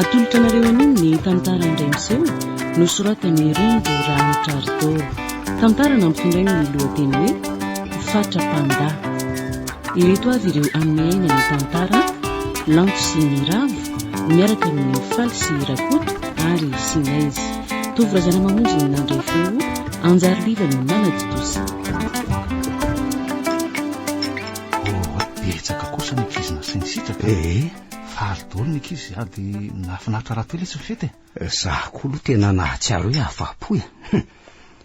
Atolotra anareo anio ny tantara indray miseho nosoratan'i Ringo Ramitraritoa. Tantara nampitondrainy ny lohateny hoe Fatra Panda. Ireto avy ireo amin'ny aina ny tantara, Lanto sy ny Ravo, miaraka amin'ny Faly sy Rakoto ary Sinez. Tovo Razanamamonjy no nandray feo, Anjariliva no nanatontosa. Oh, betsaka kosa ny ankizy nasainy sitraka. Eh, eh. Faly daholo ny ankizy sady nahafinaritra rahateo ilay tsy fety. Eh. eh, za koa aloha tena nahatsiaro hoe afapo e.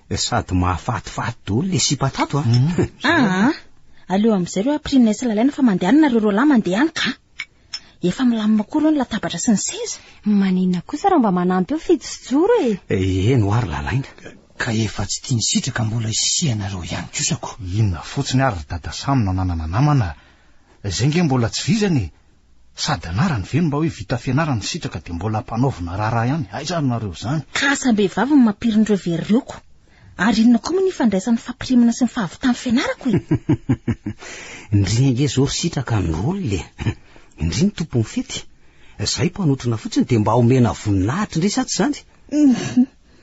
Eh. Sady mahafatifaty daholo ilay sipa tato a. Ah. Hmm. Ah, ah, aleo amin'izay ireo aprinina sy lalaina fa mandehanana ireo roa lahy mandeha any ka. Efa milamina koa ireo ny latabatra sy ny seza. Maninona kosa raha mba manampy eo Fijo sy Joro e? Eh, eny ho ary Lalaina. Ka efa tsy tia ny sitraka mbola hisianareo ihany kosa ko. Inona fotsiny ary ry Dada Samy no ananana namana a! Zay nge mbola tsy vizana e! Sady anarany ve no mba hoe vita fianarana ny sitraka dia mbola ampanaovina raharaha ihany? Aiza ary nareo izany? Ka asam-behivavy no mampirin'ireo very ireo ko! Ary inona koa moa ny ifandraisan'ny fampirimana sy ny fahavitan'ny fianarako e? Ndrii ange zao ry sitraka ny rôle e! Ndrii ny tompon'ny fety! Zahay mpanotrona fotsiny dia mba omena voninahitra ndray sa tsy izany?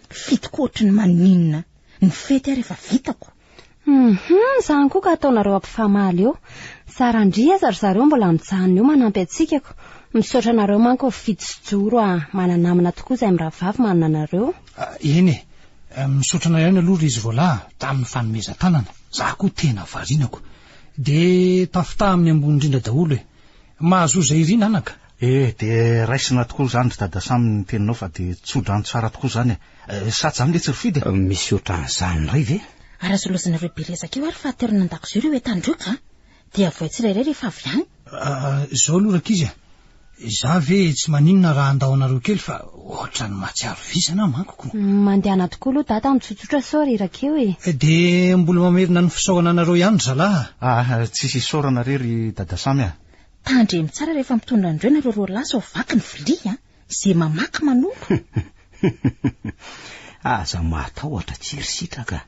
Fetiko ohatry ny maninona ny fety ary efa vitako! Hum! Izany koa ka ataonareo ampifamaly eo! Tsara ndrii aza ry zareo mbola mijanona eo manampy antsikako! Misaotra anareo manko ry Fijo sy Joro a! Mana-namana tokoa izay mirahavavy manana anareo! Eny e! Misaotra anao ihany aloha ry izy voalahy tamin'ny fanomezan-tanana. Za koa tena varinako. De tafitaha amin'ny ambony indrindra daholo e. Mahazoa izay irina anaka. E, de raisina tokoa izany ry Dada Sam ny teninao fa de tso-drano tsara tokoa izany e. Sady izany letsy ry Fidy e. Misy ohatran'izany indray ve? Arazorazinareo be resaka eo ary fahatelo nandakozio ry hoe tandroka a! Dia avoay tsirairay rehefa avy any. Ah, izao aloha rankizy a! Izaho ve tsy maninona raha handao anareo kely fa ohatran'ny mahatsiaro vizana aho manko ko! Mandehana tokoa aloha Dada amin'ny tsotsotra sao reraka eo e! Dia mbola mamerina ny fisaorana anareo ihany ry zalahy a! Ah, tsisy isaorana re ry Dada Samy a! Tandremo tsara rehefa mitondra an'ireo nareo roa lahy sao vaky ny vilia an! Ze mamaky manolo. Aza mahatahotra tsy ry sitraka.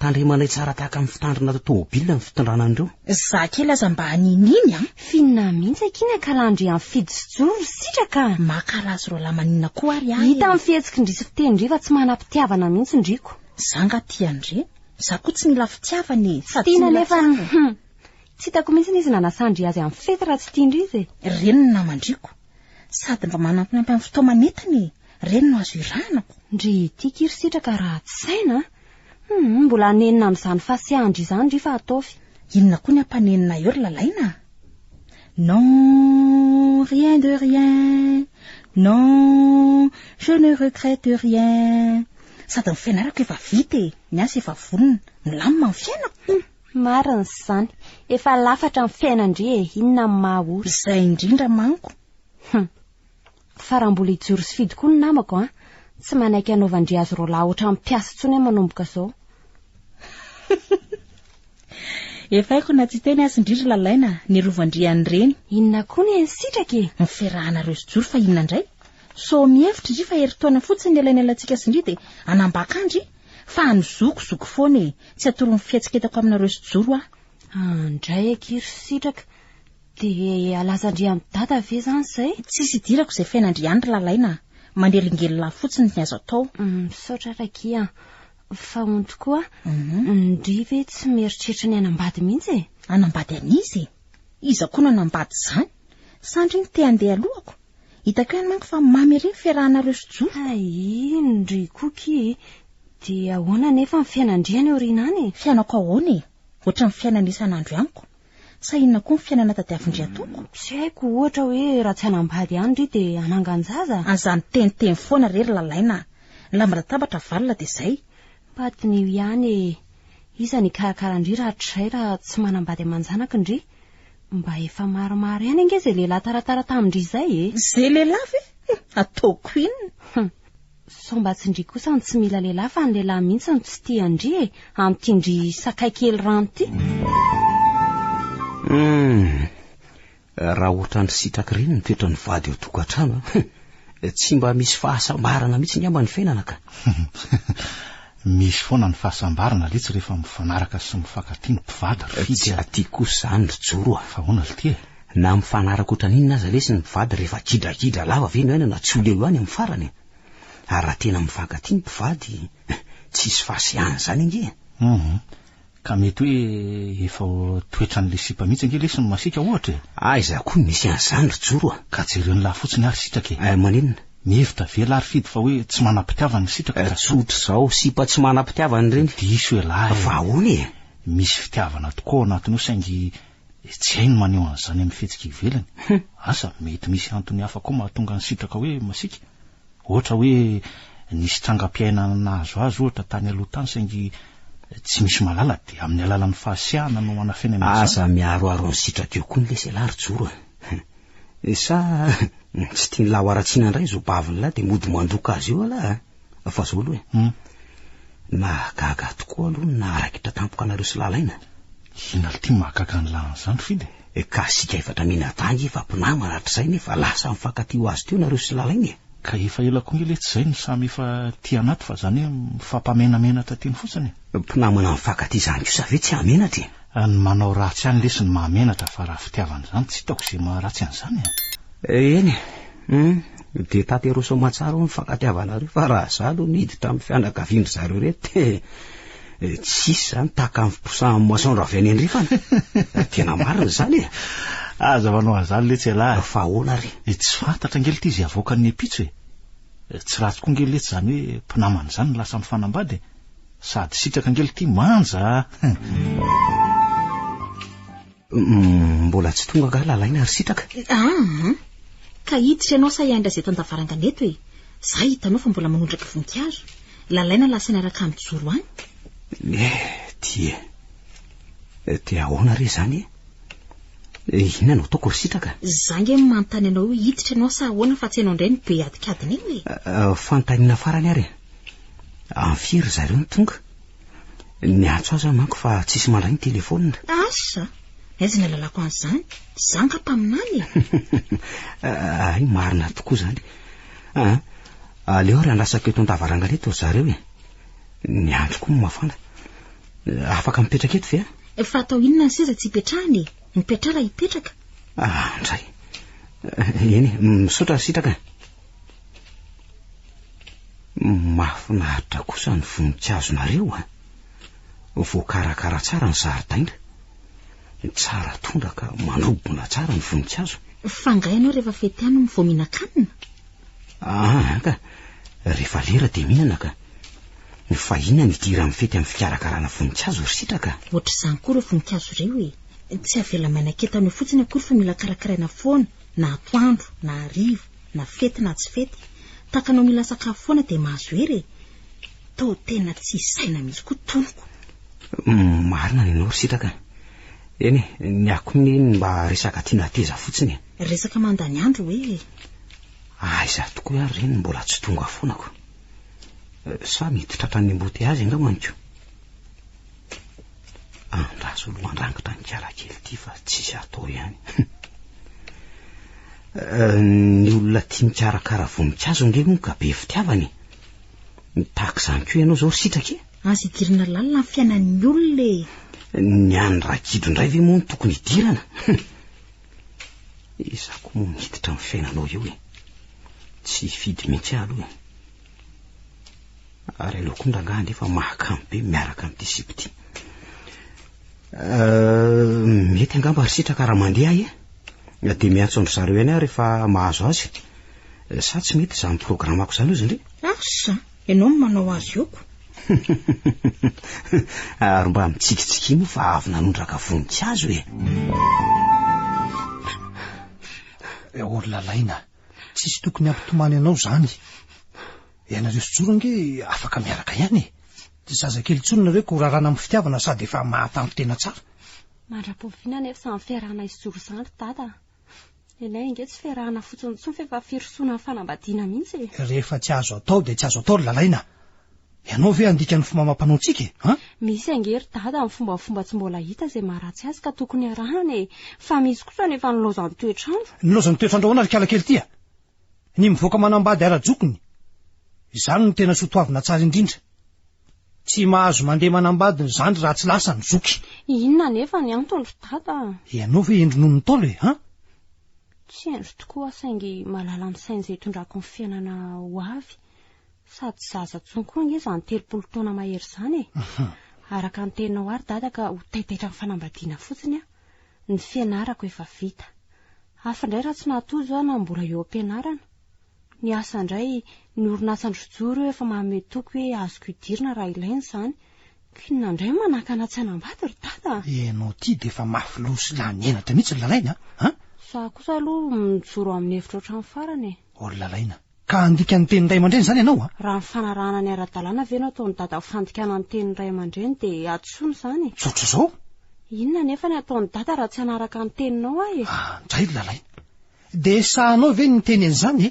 Tandremanay tsara tahaka ny fitandrina ato tômôbilina ny fitondrana an'ireo. Za kely aza mba hanininy an. Finina mihitsy akia ny akalandry an'i Fijo sy Joe ry sitraka. Makala azy roalahy maninona koa ary ahy. Hita amin'ny fihetsikindry sy fitenindry fa tsy manam-pitiavana mihitsy ndry ko. Za nga tia andry. Za koa tsy mila fitiavana e. Sady tsy mila fitiavana. Tsy hitako mihitsy izy nanasandry azy amin'ny fety raha tsy tiandry izy e. Reny ny namandriko. Sady mba manampinampy amin'ny fitaoma nentina e! Ireny no azo irahanako. Ndry ity kiry sitraka ratsy saina a! Humm mbola hanenina amin'izany fasiahan-dry izany ry fa ataovy. Inona koa ny hampanenina eo ry Lalaina a! Non, rien de rien, non, je ne regrette rien, sady ny fianarako efa vita e, ny asa efa vonona, milamina ny fiainako. Marina izany. Efa lafatra ny fiainan-dry e. Inona no maha olona. Izay indrindra manko. Hum. Fa raha mbola hijoro sy fidy koa ny namako an, tsy manaiky hanaovan-dry azy roalahy ohatran'ny mpiasa intsony aho manomboka izao. Efa haiko na tsy teny azy indry ry Lalaina, ny rovan-dry an'ireny. Inona koa ny an'i Sitraka e? Ny fiarahanareo sy Joro fa inona indray? Sao mihevitra indry fa herintaona fotsiny ny elainelaintsika sy ndry dia hanambaka an-dry? Fa any zoky zoky foana e, tsy atoron'ny fihetsiketako aminareo sy joro aho. Andray akia ry sitraka, dia alazandrian'i dada ve izany izay? Tsisy idirako izay fiainandriany ry lalaina a, manelingelina fotsiny ny azo atao. Misaotra Rakia a, fa on tokoa, ndry ve tsy mieritreritra ny hanambady mihitsy e? Hanambady an'iza e? Iza koa no hanambady izany? Sa ndry ny te handeha alohako? Hitako ihany manko fa mamy ery ny fiarahanareo sy Joa. Hay iny ry Cookie e. Dia ahoana anefa ny fiainandry any aoriana any e? Fiainako ahoana e? Ohatran'ny fiainana isan'andro amiko. Sa inona koa ny fiainana tadiavin-dry atoko? Tsy haiko, ohatra hoe raha tsy hanambady ihany ry dia hanangan-jaza? Aza niteniteny foana re ry Lalaina a! Ny lamba latabatra avalona dia izay. Mba diniho ihany e! Iza ny hikarakara an-dry rahatrizay raha tsy manambady aman-janaky ndry? Mba efa maromaro ihany ange izay lehilahy taratara tamin-dry izay e! Izay lehilahy ve? Ataoko inona? Sao mba tsy ndry kosa no tsy mila lehilahy fa ny lehilahy mihitsy no tsy tia an-dry e, amin'ity ndry sakay kely rano ity. Hum! Raha ohatran'ny sitraky ireny ny toetran'ny vady ao tokantrano an! Tsy mba misy fahasambarana mihitsy angamba ny fiainana ka! Misy foana ny fahasambarana letsy rehefa mifanaraka sy mifankatia ny mpivady ry Fidy a! Tsy aty kosa izany ry Joro a! Fa ahoana l'ty e? Na mifanaraka ohatran'ny inona aza lesy ny mpivady rehefa kidrakidra lava ve ny aina na tsy ho leo ihany amin'ny farany e! Ary raha tena mifankatia ny mpivady, tsisy fahasiahana izany ange e! Humm. Ka mety hoe efa toetran'ilay sipa mihitsy ange lesy ny masiaka ohatra e! Aiza koa misy an'izany ry Joro a! Ka jereo ny lahy fotsiny ary sitraka e! Eh maninona? Mihevitra ve lahy ry Fidy fa hoe tsy manam-pitiavana ny sitraka ka. Tsotra izao, sipa tsy manam-pitiavana ireny. Diso ialahy e! Fa ahoana e? Misy fitiavana tokoa ao anatiny ao saingy tsy hay ny maneho an'izany amin'ny fihetsika ivelany. Asa mety misy antony hafa koa mahatonga ny sitraka hoe masiaka? Ohatra hoe nisy trangam-piainana nahazo azy ohatra tany aloha tany saingy tsy misy mahalala dia amin'ny alalan'ny fahasiahana no anafenany an'izany. Aza miharoharo ny sitrak'io koa ny leselà ry Joro a! Sa tsy tian'lah ho aratsiana indray izao bavin'lah dia mody mandroka azy eo alah a! Fa izao aloha e! Mahagaga tokoa aloha ny naharakitra tampoka anareo sy Lalaina a! Inona ity mahagaga an'lah an'izany Fidy e! Eh ka asika efatra minadahy efa mpinamana hatrizay nefa lasa mifankatia ho azy teo nareo sy lalaina eh. Ka efa ela koa nge letsy zay no samy efa tia anaty fa zany hoe mifampamenamenatra teny fotsiny eh. Mpinamana mifankatia zany kosa ve tsy hamenatra eh. Ny manao ratsy ihany lesy no mahamenatra fa raha fitiavana zany tsy hitako ze maha ratsy an'zany eh. Eh eny eh. Hum de taterosao aman-tsara hono ny fankatiavanareo fa raha za aloha niditra amin'ny fianakavian-dry zareo reto eh. Eh, tsisy zany tahaka ny fiposahan'ny moisson raha avy any andrefana eh, tena marina zany e aza manao azany letsy alahy eh, fa ahoana ry e tsy fantatra ngely ty izay avoakan'ny epitso e tsy ratsy koa ngely letsy zany hoe mpinamana izany no lasa mifanambady sady sitraka ngely ty manja Mbola tsy tonga angaha lalaina ry sitraka? Aa! Ka hiditra ianao sa hiandry azy eto an-davarangana eto e? Za hitanao fa mbola manondraka voninkazo. Lalaina lasa niaraka mijoro any. Eh, ty e. Eh, te ahoana re izany e? Eh, inona no ataoko ry sitraka? Za nge manontany anao io hiditra ianao sa ahoana fa tsy ianao indray no be adikadina eo e? Eh, eh, fanontaniana farany ary e. Amin'ny firy ry zareo no tonga? Ny antso aza manko fa tsisy mandray ny telefonina. Asa, aiza ny alalako an'izany? Za nga mpaminany e. Ay, marina tokoa zany. Ah, aleo ary andrasako eto an-davarangana eto ry zareo e. Ny andro koa mafana. Afaka mipetraka eto ve? Fa atao inona ny seza tsy ipetrahana e? Ny piatrara hipetraka. Ah, ndray. Eny, misaotra sitraka. Mahafinaritra kosa ny voninkazonareo a! Ah. Voakarakara tsara ny zaridaina. Tsara tondraka, manobona tsara ny voninkazo. Fa nga ianao rehefa fety any no vao mihinan-kanina? Ah, ka. Rehefa lera dia mihinana ka. Fa inona ny idiran'ny amin'ny fety amin'ny fikarakarana voninkazo ry sitraka? Ohatr'izany koa ireo voninkazo ireo e. Tsy avela maina ketana eo fotsiny akory fa mila karakaraina foana, na atoandro, na hariva. Na fety na tsy fety, tahaka anao mila sakafo foana dia mahazo hery e! Tao tena tsy saina mihitsy koa tonoko. Marina ny anao ry sitraka a! Eny e, ny ahy koa ny mba resaka tiana hateza fotsiny e! Resaka mandany andro hoe e! Aiza tokoa ary re ny mbola tsy tonga foanako? Sa mety tratran'ny embouteillages angambany ko? Andraso aloha handrangitra ny kiarakely ity fa tsisy atao ihany. Eh, ny olona tia mikarakara voninkazo nge moa ka be fitiavana e. Mitaky izany koa ianao izao ry sitraka e. Aza idirana lalina ny fiainan'ny olona e. Ny an'ny rakidro indray ve moa no tokony idirana? Izaho koa moa miditra amin'ny fiainanao eo e. Tsy hifidy mihitsy aho aloha e. Ary ianao koa rangahy ange fa mahakamo be miaraka amin'ity sipa ity. Euh, mety angamba ry sitraka raha mandeha ahy e. Dia miantso an-dry zareo ihany aho rehefa mahazo azy. Euh, sa tsy mety izany programako izany ozy indray? Asa, ianao no manao azy oko. Ary mba mitsikitsiky moa fa avy nanondraka voninkazo e. Eh, olona laina. Tsisy tokony hampitomany anao zany. Ianareo sy Joro ange afaka miaraka ihany e. Tsy zazakely intsony nareo ka ho rarana amin'ny fitiavana sady efa mahatanty tena tsara. Mandra-pofiana anefa izany fiarahana hisy Joro izany ry Dada a. Nenay ange tsy fiarahana fotsiny intsony fa efa firosoana amin'ny fanambadiana mihitsy e. Rehefa tsy azo atao dia tsy azo atao ry Lalaina. Ianao ve handika ny fomba amam-panao ntsika e? An? Misy ange ry dada amin'ny fombafomba tsy mbola hita izay maharatsy azy ka tokony arahana e! Fa misy kosa anefa nilaozan'ny toetr'andro. Nilaozan'ny toetr'andro ahoana ry kala kely ty a? Ny mivoaka manambady ara-jokiny, izany no tena soa toavina tsara indrindra. Tsy mahazo mandeha manambady ny zandry raha tsy lasa ny zoky. Inona anefa ny antony ry dada a? Ianao ve hendry noho ny Ntaolo e? An? Tsy hendry tokoa aho saingy mahalala ny sain'izay itondrako ny fiainana ho avy. Sady zaza tsony koa ange izany telopolo taona mahery izany e! Araka ny teninao ary dada ka ho taitaitra amin'ny fanambadiana fotsiny aho. Ny fianarako efa vita. Hafa indray raha tsy nahatozo aho na mbola eo am-pianarana. Ny asa indray, ny orinasandry rojo ireo efa manome toky hoe azoko idirina raha ilaina izany. K'inona indray no manakana tsy hanambady ry dada a! Ianao ity dia efa mafy loha sy lany henatra mihitsy ry Lalaina a! Za kosa aloha mijoro amin'ny hevitro hatramin'ny farany e! Ô ry Lalaina, Ka handika ny tenin'ny ray aman-dreny izany ianao a? Raha nifanarahana ny ara-dalàna ve no ataon'i Dada ho fandikana ny tenin'ny ray aman-dreny dia hadisoana izany e? Tsotra izao. Inona anefa ny hataon'i Dada raha tsy hanaraka ny teninao aho e? Ah, ndray ry Lalaina. Dia sahanao ve ny miteny an'izany e?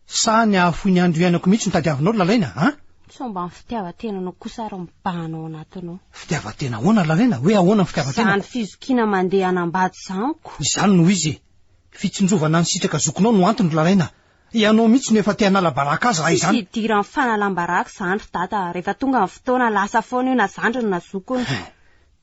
Sa ny hahafoy ny andro iainako mihitsy no tadiavinao ry Lalaina a? Sao mba ny fitiavan-tenanao kosa ary mibahana ao anatinao? Fitiavan-tena ahoana ry Lalaina? Hoe ahoana ny fitiavan-tenako? Izany fizokiana mandeha hanambady izany ko! Izany no izy e! Fitsinjovana ny sitraka zokinao no antony ry Lalaina a! Ianao mihitsy no efa te hanala baraka azy raha izany! Tsisy idiran'ny fanalam-baraka izany ry Dada a! Rehefa tonga ny fotoana, lasa foana io na zandriny na zokiny. Hein!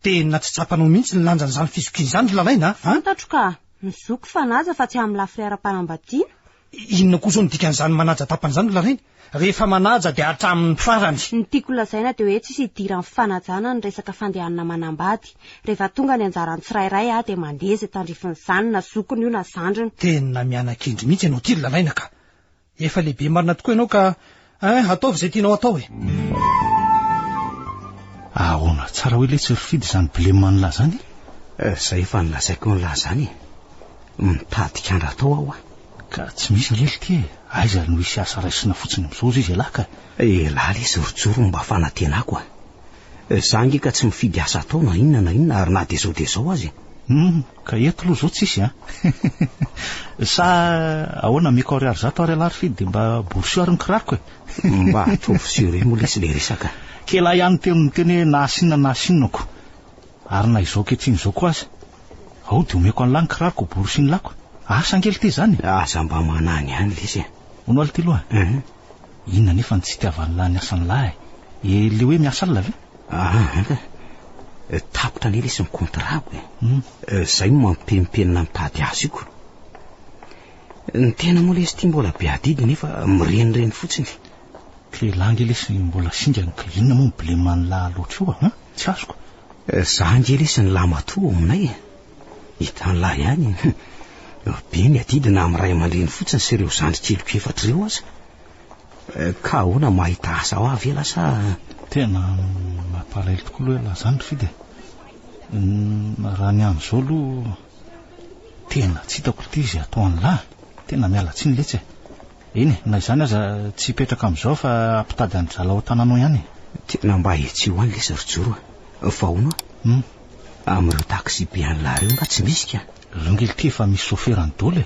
Tena tsy tsapanao mihitsy ny lanjan'izany fizokiana izany ry Lalaina a! Fantatro ka! Ny zoky fanaja fa tsy amin'ny lafiny ara-panambadiana. Inona koa izao no dikan'izany manaja tapany izany ry Larainy? Rehefa manaja dia hatramin'ny farany. Ny tiako holazaina dia hoe tsisy idiran'ny fanajana ny resaka fandehanana manambady. Rehefa tonga ny anjaran'ny tsirairay aho dia mandeha izay tandrifin'izany na zokiny io na zandriny. Tena miana-kendry mihitsy ianao ity ry Laraina ka! Efa lehibe marina tokoa ianao ka Eh, ataovy izay tianao atao e. Ahoana tsara hoe letsy ry Fidy izany blema an'lah izany? Eh, izay efa nilazaiko an'lah izany e. Mitady kandra atao aho a. Ka tsy misy anie litia e. Aiza no hisy asa raisina fotsiny mizozo izy elah ka. Elah lesy ry Joro mba fanatenako a. Za nge ka tsy mifidy asa atao na inona na inona ary na dia zao dia zao aza e! Humm, ka eto aloha zao tsisy an! Sa ahoana Miko Ariary zato ary alà rfid dia mba borsio ary ny kiraroko e! Mba ataovy sérieux moa lesy le resaka. Kela ihany teo no niteny hoe na asinona na asinonako. Ary na izao ankehitriny izao koa aza. Ao dia omeko an'lah ny kiraroko ho borosian'lako. Asa ange lty zany e! Aza mba manany ihany lesy e! Hono aho lty loha. Inona anefa ny tsy itiavan'ny lahy ny asan'ny lahy e? Ilay hoe miasa alina ve? Aa, tapitra anie lesy ny kontrako e. Hmm. Izay no mampihempenina ny tady aziko. Ny tena moa lesy ity mbola be adidy nefa mirenireny fotsiny. Kle lahy nge lesy mbola singany ka inona moa ny bleman'ny lahy loatra eo a? Tsy azoko. Za nge lesy ny lahy matoa ao aminay e. Hitan'lah ihany e! Hum! Be ny adidy na amin'ny ray aman-dreny fotsiny sy ireo zandry keliko efatra ireo aza. Ka ahoana mahita asa ho ahy ve lah sa? Tena mampalahelo tokoa aloha elah zany ry Fidy e! Raha ny amin'izao aloha tena tsy hitako ity izay ataon'lah e! Tena miala tsiny letsy e! Eny e, na izany aza tsy hipetraka amin'izao fa hampitady an'i drala ao an-tananao ihany e! Tena mba etsy ho any lesy ry Joro a! Fa hono a? Hum! Amin'ireo taxi-be any la reo nga tsy misy ka? Reo nge lty efa misy soferany dol e!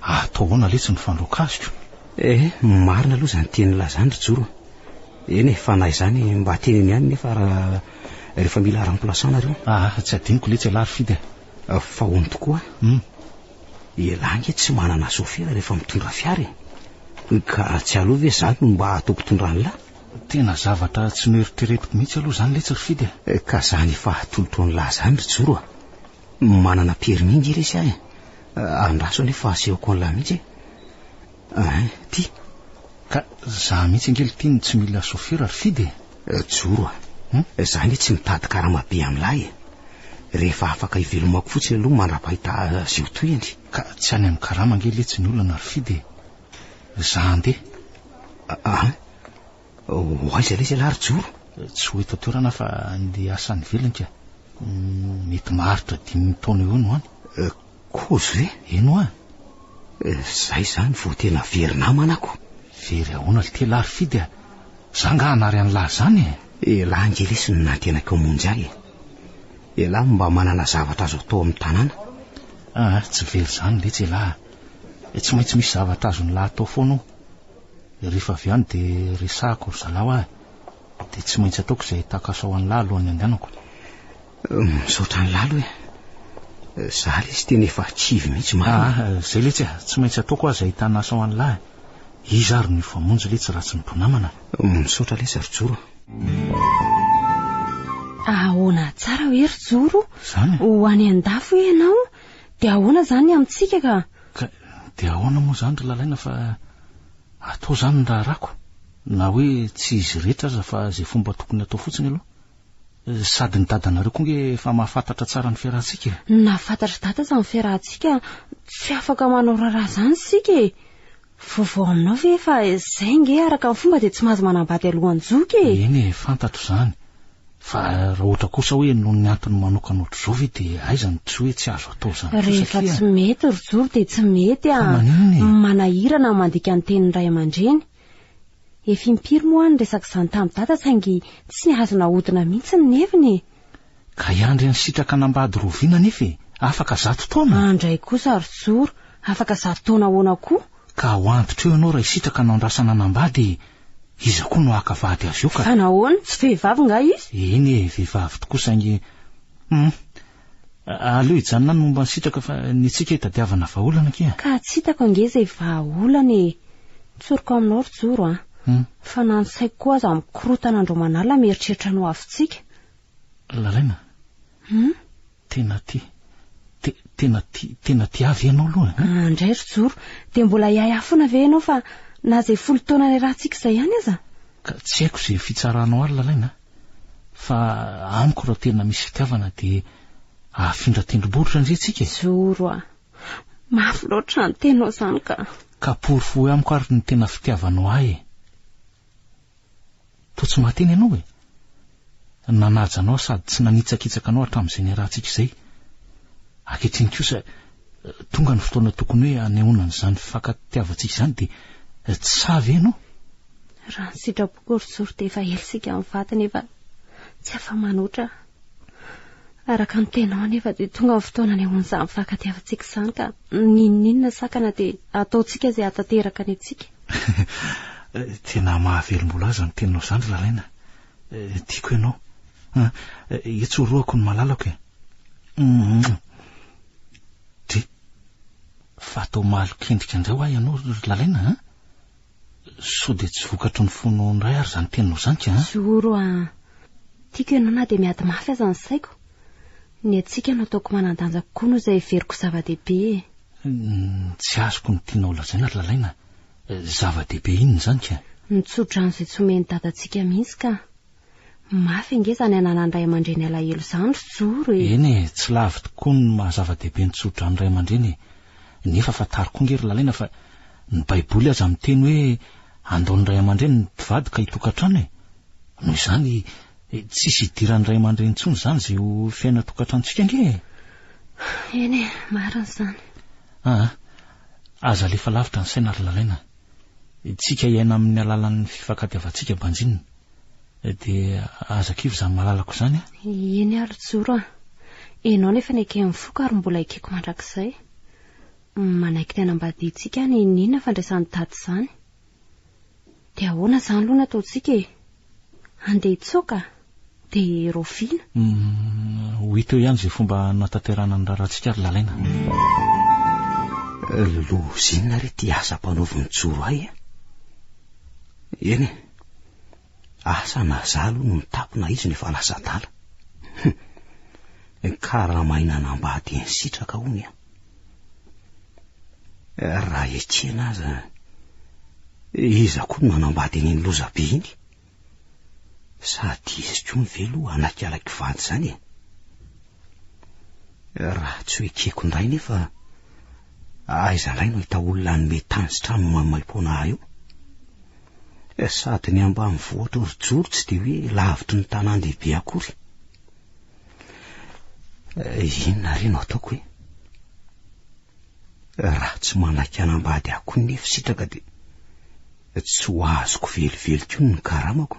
Atao ahoana letsy ny fandroaka azy ko? Eh, marina aloha izany tiany lazany ry Joro a! Eny e, fa na izany mba teneno ihany nefa ra rehefa mila remplaçant nareo. Ah, tsy adinoko letsy elah ry Fidy a! Fa hono tokoa a! Hum! Elah nge tsy manana sofera rehefa mitondra fiara e! Ka tsy aleo ve za no mba atao mpitondra an'lah? Tena zavatra tsy noeritreretiko mihitsy aloha zany letsy ry Fidy a. Eh, ka zany efa atolotroan'lah zany ry Joro a. Manana permis nge resy ahy a. Andraso anie fa asehoko an'lah mihitsy e. Ein, ty. Ka za mihitsy ange lty no tsy mila sôfera ry Fidy e. Eh, Joro a. Hum? Za nge tsy mitady karama be amin'lah e. Rehefa afaka ivelomako fotsiny aloha mandra-pahita azy eo tohiny. Ka tsy any amin'ny karama nge letsy ny olana ry Fidy e. Za handeha. Ein? Ho aiza lesy ialahy ry Joro? Tsy ho eto an-toerana fa andeha hiasa any ivelany ka. Mety maharitra dimy taona eo no any. Kozy ve? Eny hoa. Zay zany vao tena very namana ako. Very ahoana ry tela ry Fidy a! Za nga hanary an'lah zany e! Elah nge lesy no nantenako hamonjy ahy e! Elah no mba manana zavatra azo atao amin'ny tanàna. Aa, tsy very zany letsy elah a! Tsy maintsy misy zavatra azon'lah atao foana ao. Rehefa avy any dia resahako ry zalahy ahy, dia tsy maintsy ataoko izay tahaka asao an'lah alohan'ny andehanako. Misaotra an'lah aloha e. Zah lesy tena efa kivy mihitsy marina. Ah, izay letsy e, tsy maintsy ataoko aho izay ahitana asao an'lah e. Iza ary no hifamonjy letsy raha tsy ny mpinamana. Misaotra lesy ry Joro a. Ahoana tsara hoe ry Joro? Izany e. Ho any an-dafy hoe ianao, dia ahoana izany ny amintsika ka? Ka dia ahoana moa izany ry Lalaina fa atao izany ny raharahako? Na hoe tsy izy rehetra aza fa izay fomba tokony hatao fotsiny aloha. Sady ny dadanareo koa ange efa mahafantatra tsara ny fiarahantsika e! Na fantatr'i Dada aza ny fiarahantsika, tsy afaka manao raharaha izany isika e! Vaovao aminao ve fa izay ange araka ny fomba dia tsy mahazo manambady alohan'ny zoky e! Eny e, fantatro izany. Fa raha ohatra kosa hoe noho ny antony manokana ohatr'izao ve dia aiza no tsy hoe tsy azo atao izany kosa satria. Rehefa tsy mety ry Joro dia tsy mety a! Fa maninona e? Manahira na mandika ny tenin'ny ray aman-dreny. Efa impiry moa aho niresaka izany tamin'i Dada saingy tsy azo nahodina mihitsy ny heviny e! Ka i Andry Ansitraka an'Ambady Roviana anefa e! Afaka zato taona? Andry kosa ry Joro, afaka zato taona ahoana koa? Ka ho antitra eo ianao raha hisitraka anao andrasana an'Ambady e! Iza koa no haka vady azy io ka? Fa nahoana? Tsy vehivavy nga izy? Eny e, vehivavy tokoa saingy Hum. Aleo hijanona any momba ny sitraka fa ny antsika hitadiavana vahaolana akia. Ka tsy hitako ange izay vahaolana e! Tsoriko aminao ry Joro a! Fa na ny saiko koa aza mikorontana andro aman'alina mieritreritra ny hoavintsika. Lalaina, Hum? Tena ti, te, tena ti, tena tiavy ianao aloha an? Ah, indray ry Joro, dia mbola hiahiahy foana ve ianao fa na izay folo taona niarahantsika izay ihany aza? Ka tsy haiko izay fitsaranao ary Lalaina a! Fa amiko raha tena misy fitiavana dia hahafindra tendrombohitra ndry tsika e! Joro a! Mafy loatra izany teninao izany ka! Ka porofoy amiko ary ny tena fitiavanao ahy e! Toa tsy mahateny ianao e! Nanaja anao sady tsy nanitsakitsaka anao hatramin'izay niarahantsika izay. Ankehitriny kosa, tonga ny fotoana tokony hoe hanehoana an'izany fifankatiavantsika izany dia tsy sahy ve ianao? Raha ny sitrapoko ry Zoro dia efa ela isika mivady nefa tsy afa-manoatra aho. Araka ny tenao anefa dia tonga ny fotoana anehoan'izany fifankatiavantsika izany ka n'inon'inona sakana dia ataontsika izay hahatanteraka ny antsika. Tena mahavelom-bolo azy ny teninao izany Ralaina. Tiako ianao. Itsorohako ny malalako e. Dry. Fa atao malokendrika indray ho ahy ianao ry Lalaina a! Sao dia tsy vokatry ny fonao indray ary izany teninao izany ka an? Zoro a! Tiako ianao na dia miady mafy aza ny saiko. Ny antsika no ataoko manan-danja kokoa noho izay heveriko zava-dehibe e! Tsy azoko ny tianao lazaina ry Lalaina. Zava-dehibe inona izany ka? Ny tsodrano izay tsy omen'i Dadantsika mihitsy ka! Mafy ange izany ananan'ny ray aman-dreny alahelo izany ry Joro e! Eny e, tsy lavo tokoa ny maha zava-dehibe ny tsodrano ray aman-dreny e! Nefa fantaro koa ange ry Lalaina fa ny baiboly aza miteny hoe andao ny ray aman-dreny ny mpivady ka hitokantrano e! Noho izany, tsisy hidiran'ny ray aman-dreny intsony izany izay ho fiainan-tokantranontsika ange e! Eny e, marina izany. Aa, aza alefa lavitra ny saina ry Lalaina. Tsika hiaina amin'ny alalan'ny fifankatiavantsika banjinina. dia aza kivy izany malalako izany a. Eny ary joro a. Ianao nefa neken'ny foko ary mbola ekeko mandrakizay. Manaiky ny hanambadiantsika any inona fandraisan'i Dada izany. Dia ahoana izany aloha no ataontsika e? Handeha hitsoaka? Dia raoviana? Ho hita eo ihany izay fomba hanatanterahana ny raharahantsika ry Lalaina. Lozinina re ity asa ampanaovin'i Joro ahy a. Eny e. Asa na za aloha no nitapo na izy no efa lasa adala. Hum. Ny karama aina hanambady eny sitraka hono an. Raha ekena aza, iza koa no nanambady an'iny lozabe iny? Sady izy koa ve aloha hanaiky ala kivandy izany e? Raha tsy ho ekeko indray nefa aiza indray no hita olona hanome tany sy trano maimaim-poana ahy eo? Eh, sady ny ambany vohitra orijoro tsy dia hoe lavitry ny tanàn-dehibe akory. Eh, inona re no ataoko e? Raha tsy manaiky hanambady ahy koa ny fisitraka dia Tsy ho azoko velively koa ny karamako.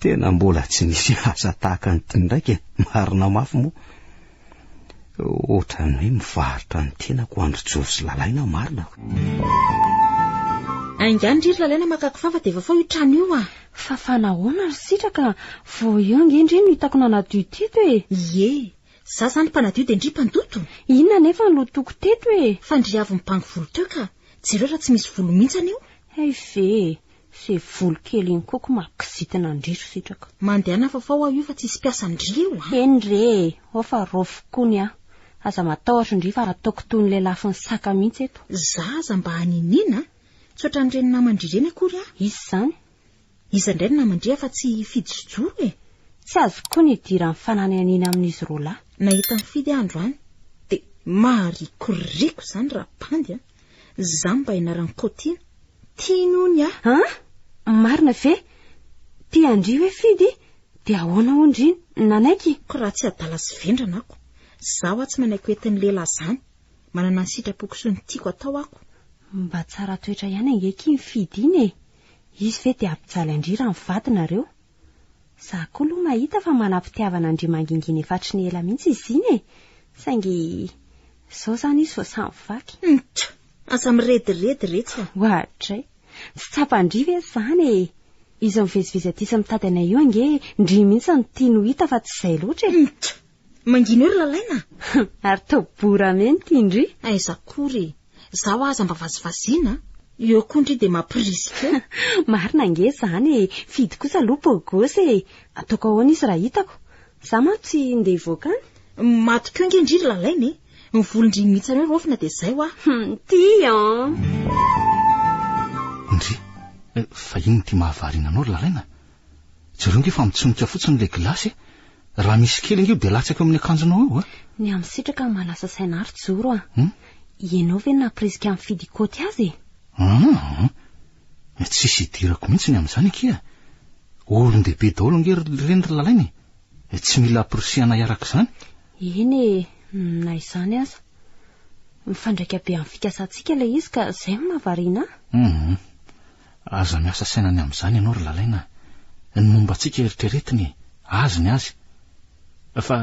Tena mbola tsy nisy asa tahaka an'ity ndraika, marina mafy moa. Ohatran'ny hoe mivarotra ny tenako andry jory sy lalaina marina. Aingano ry lalaina makako fafa dia vafao io trano io ah. Fafa nahoana ry sitraka, vao eo ange ndry no hitako nanadio teto e. Ie. Za zany mpanadio dia ndry mpandoto? Inona anefa no toko teto e? Fa ndry avy mibango volo teo ka, jereo raha tsy misy volo mihitsy anio. Hay ve e, ze volo kely iny koa ko mahakizitina ndry ry sitraka. Mandehana fa fao aho io fa tsisy mpiasa ndry eo a! Eny re e, ao fa raofiko koa ny ahy. Aza matahotra ndry fa ataoko toy ny lelafin'ny saka mihitsy eto. Za aza mba haniniana a! Tsy ohatran'ireny naman-dry ireny akory aho. Iza izany? Iza indray no namandriha fa tsy i Fidy sy Joro e? Tsy azoko koa ny hidiran'ny fananihaniana amin'izy roa lahy. Nahita an'i Fidy aho androany dia maharikoriko izany rabandy a! Izaho mba ianaran'i Kaotiana, tiany hono aho. An! Marina ve? Tian-dry hoe Fidy? Dia ahoana hono ry nanaiky? Koa raha tsy adala sy vendrana ako, izaho aho tsy manaiky ho entin'ny lehilahy izany. Manana ny sitrapoko sy ny tiako atao ako. Mba tsara toetra ihany ange ky iny Fidy iny e! Izy ve dia hampijaly an-dry raha mivady nareo? Za koa aloha mahita fa manam-pitiavana an-dry mangingina efa hatry ny ela mihitsy izy iny e! Saingy izao izany izy vao samy vaky. Nch! Aza mirediredy retsy a! Oadray! Tsy tsapan-dry ve izany e! Izy mivezivezy aty sy mitady anay io ange ndry mihitsy no tiany ho hita fa tsy izay loatra e! Nch! Mangina eo ry Lalaina a! Ary tao bora menty indry! Aiza akory e! Zaho aza mba vazivaziana a! Eo koa ndry dia mampirisika eo! Marina ange izany e! Fidy kosa aloha beau gosse e! Ataoko ahoana izy raha hitako? Za manko tsy ndeha hivoaka any! Maty koa ange ndry ry Lalaina e! Ny volon-dry mihitsy anao raofina dia izay hoa! Ty an! Ndry, fa inona ity mahavariana anao ry Lalaina? Jereo nge fa mitsonika fotsiny ilay gilasy e! Raha misy kely ange io dia latsaka eo amin'ny akanjonao eo a! Ny amin'ny sitraka no mahalasa saina ary joro a! Ianao ve no nampirisika an'i Fidy hikaoty azy e! An! Tsisy idirako mihitsy ny amin'izany akia! Olon-dehibe daholo ange ry reny ry lalaina e! Tsy mila ampirisihana hiaraka izany! Eny e! Na izany aza! Mifandraika be amin'ny fikasantsika ilay izy ka izay no mahavariana ahy! Hum! Aza miasa saina ny amin'izany ianao ry Lalaina a! Ny momba antsika eritreretiny e! Azy ny azy! Fa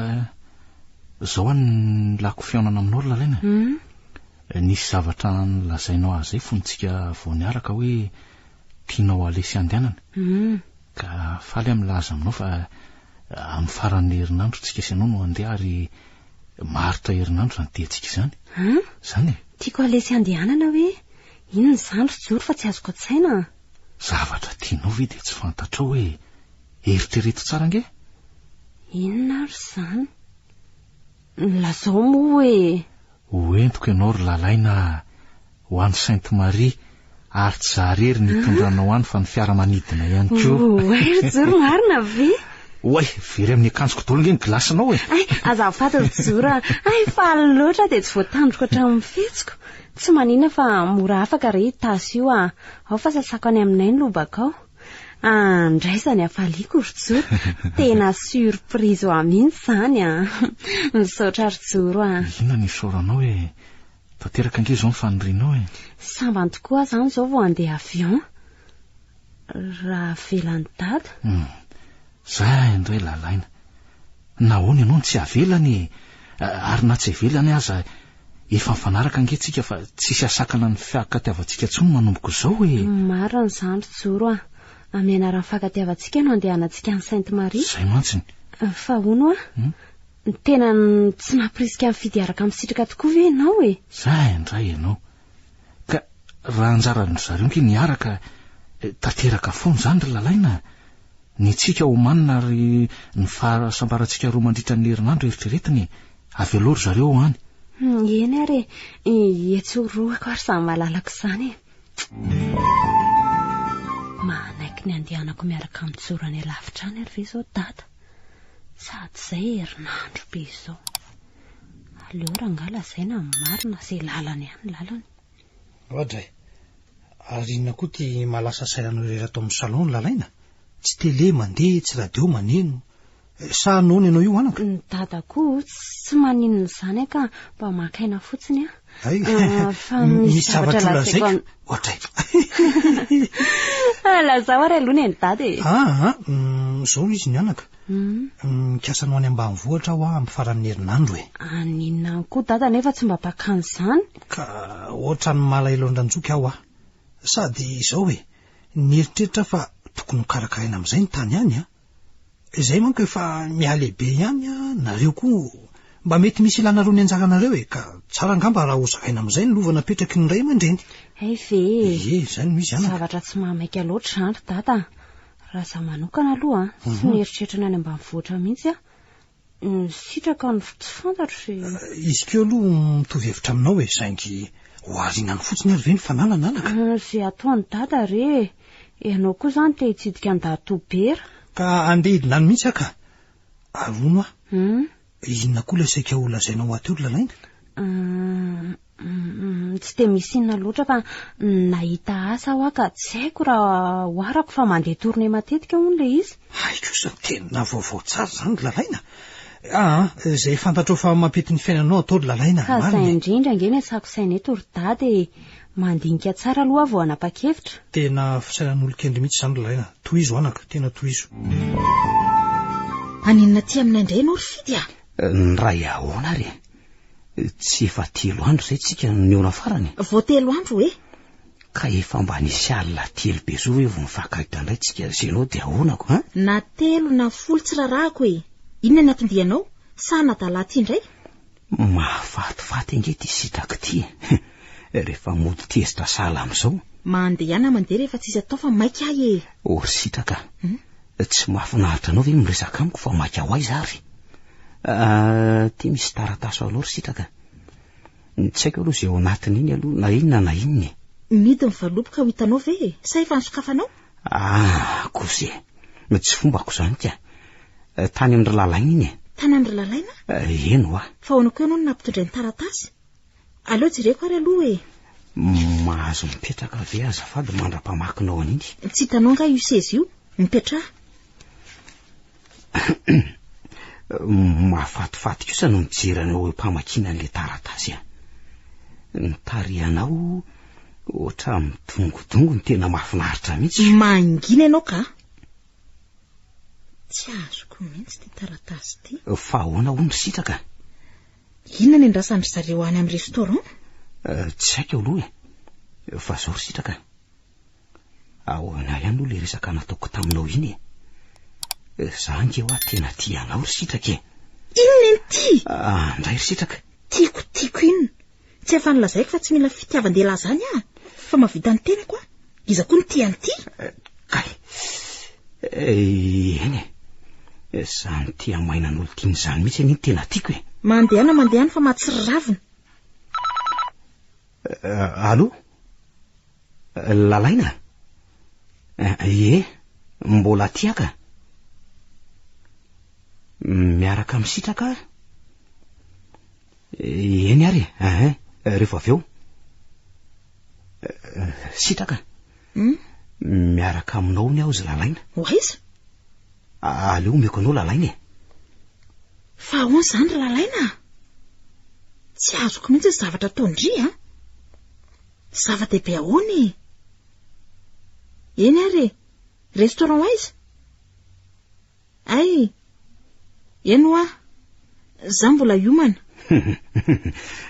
izao aho no lako fihaonana aminao ry Lalaina e! Nisy zavatra nolazainao ahy izay fony tsika vao niaraka hoe tianao halesy handehanana ka faly aho milaza aminao fa amin'ny faran'ny herinandro tsika sy ianao no handeha ary maharitra herinandro izany diantsika izany. An? Izany e! Tiako halesy handehanana hoe Inona izany ry Joro fa tsy azoko an-tsaina an! Zavatra tianao ve dia tsy fantatrao hoe eritrereto tsara ange? Inona ary izany? Lazao moa hoe. Hoentiko ianao ry Lalaina a! Ho any Sainte Marie ary tsy za irery no hitondranao any fa ny fiaramanidina ihany koa. Oay ry Joro marina ve? Oay, very amin'ny akanjoko daholo ange ny gilasinao e! Ay, azafady ry Joro a! Ay, faly loatra aho dia tsy voatandriko hatramin'ny fihetsiko. Tsy manina fa mora afaka re i Tasy io ah! Ao fa sasako any aminay ny lobaka ao. Ah, ndray izany hafaliako ry Joro! Tena surprise ho ahy mihitsy izany an! Misaotra ry Joro ah! Inona no isaoranao e? Tanteraka ange izao ny fanirianao e! Sambany tokoa aho izany izao vao handeha avion! Raha avelan'i Dada? Hum. Za indray lalaina. Nahoana ianao no tsy avelany e? Ary na tsy avelany aza efa mifanaraka ange tsika fa tsisy asakana ny fiakatiavantsika tsony manomboka izao e! Marina izany ry Joro a! Amin'ny anaran'ny fiakatiavantsika no andehanantsika any Sainte Marie. Izay mantsy ny. Fa hono a! Tena tsy nampirisika nifidy hiaraka amin'ny sitraka tokoa ve ianao e? Za indray ianao. Ka raha anjaran-dry zareo ange ny araka eh, tanteraka foana izany ry lalaina a. Ny antsika omanina ary ny fahasambarantsika roa mandritra ny herinandro eritreretina e. Avy aloha ry zareo ao any. Hmm, eny ary e, i etsy ho roako ary samy malalako izany e. Manaiky ny andehanako miaraka amin'ny joro any alavitra any ary ve izao dada? Sady izay herinandro be izao. Aleo rangah lazaina ny marina ze lalany any lalany. Roja e! Ary inona koa ty mahalasa saina anao irery ato amin'ny salon no lalaina? Tsy tele mandeha, tsy radio maneno. Sa noana ianao io anaka? Ny dada koa tsy maninona izany an ka mba maka aina fotsiny an. Hay, fa misy zavatra lazaiko an. Roja e! Lazao ary aloha ny an'i dada e. Aa, izao izy ny anaka. Mikasa anao any ambanivohitra aho amin'ny faran'ny herinandro e. Any inona any koa dada nefa tsy mba mpakany izany? Ka ohatran'ny malahelo an-dRanjoky aho a. Sady izao e, nieritreritra aho fa tokony ho karakaraina amin'izay ny tany any a. Izay manko efa mihalehibe ihany a, nareo koa mba mety misy ilanareo ny anjaranareo e, ka tsara angamba raha hozaraina amin'izay ny lova napetraky ny ray aman-dreny. Hay ve e. Ie, izay no izy anaka. Zavatra tsy mahamaika loatra izany ry dada a. Raha za manokana aloha an, tsy mhm. mieritreritra ny any ambanivohitra mihitsy an, misitraka ny tsy fantatro sy... Eh, izy keo aloha mitovy hevitra aminao e, saingy ho arinany fotsiny ary ve ny fananana anaka? Eh, ze ataony dada re, ianao koa zany te hitsidika an-dahy tobera. Ka andeha hidina any mihitsy aka, arono aho. Hmm? Inona koa ilay saika ho lazainao aty olona lainga? Hum, tsy dia misy inona loatra fa nahita asa aho ka tsy haiko raha ho arako fa mandeha tournée matetika hono ilay izy. Hay kosa, tena vaovao tsara izany ry Lalaina. Ah, izay fantatrao fa mampety ny fiainanao atao ry Lalaina, marina e. Ka izay indrindra ange no iasako saina eto ry Dada e. Mandinika tsara aloha aho vao hanapa-kevitra. Tena fisainan'olon-kendry mihitsy izany ry Laina. Tohizo anaka, tena tohizo. Haninona aty aminay indray ianao ry Fidy a! Niray ahoana ary e? Tsy efa telo andro izay tsika no nihaona farany? Vao telo andro e! Ka efa mba nisy alina telo be zao ve vao nifankahita indray tsika sy ianao dia ahoana ko an? Na telo na folo tsy rarahako e! Inona ny anton-dianao? Sa hanadala aty indray? Mahafatifaty ange ty sitraky ty e! Rehefa mody tezitra sahala amin'izao. Mandehana mandeha rehefa tsisy atao fa maika ahy e! Oh ry sitraka a! Tsy mahafinaritra anao ve ny miresaka amiko fa maika ho aiza ary? Aty misy taratasy ho anao ry sitraka. Tsy haiko aloha izay ao anatin'iny aloha na inona na inona e! Midiny fa lobika ho hitanao ve e? Sa efa nisokafanao? Ah, kosa e. Tsy fombako izany ka. Eh, tany amin-dry Lalaina iny e. Tany amin-dry Lalaina? Eh, eny hoa. Fa ahoana koa ianao no nampitondray ny taratasy? Aleo jereko ary aloha e. Mahazo mipetraka ve azafady mandra-pamakinao an'iny? Tsy hitanao angaha io seza io? Mipetraha. Mahafatifaty kosa no mijery anao eo mpamakiana an'ilay taratasy an. Ny tarihanao ohatra midongodongo ny tena mahafinaritra mihitsy. Mangina ianao ka. Tsy azoko mihitsy ity taratasy ity. Fa ahoana hono ry sitraka? Inona ny andrasan-dry zareo any amin'ny restaurant? Eh, tsy haiko aloha e. Fa zao ry sitraka. Ahoana ihany moa ilay resaka nataoko taminao iny e? Ry za ange hoa tena tia anao ry sitraka e! Inona iny ty? Ah, ndray ry sitraka! Tiako, tiako inona? Tsy afa nolazaiko fa tsy mila fitiavan-dehilahy izany aho, fa mahavita ny tenako aho. Iza koa no tia an'ity? Eh, kay! Eh, eny e! Izany tia maina an'olo tiany izany mihitsy anie no tena tiako e! Mandehana, mandehana fa mahatsiravina. Euh, allô Lalaina Ie, mbola tiaka Miaraka misitraka Eny ary, ahin, rehefa avy eo Sitraka hmm? Miaraka aminao ny aho zy lalaina Ho aiza Aleo omeko anao lalaina e Fa ahoana izany ry Lalaina a? Tsy azoko mihitsy ny zavatra ataon-dry a! Zava-dehibe ahoana e? Eny ary e, restaurant aiza? Ay, eny hoa, za mbola hiomana.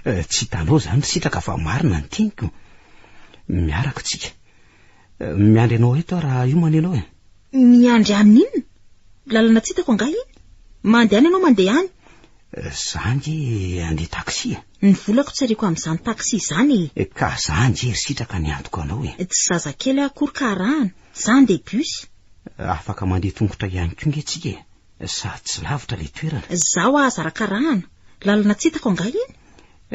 Eh, tsy hitanao izany ry sitraka fa marina ny teniko. Miaraka tsika. Miandry anao eto raha hiomana ianao e. Miandry an'ny inona? Lalana tsy hitako angaha iny? Mandehana ianao mandeha any. Zange andeha taxi e. Ny volako tsy ariako amin'izany taxi izany e. Eh, ka zange ry sitraka ny antoko anao e. Tsy zazakely aho akory ka arahana. Za andeha bus. Afaka mandeha tongotra ihany koa nge tsika e. Sady tsy lavitra le toerana. Zaho aza arakarahana. Lalana tsy hitako angaha iny?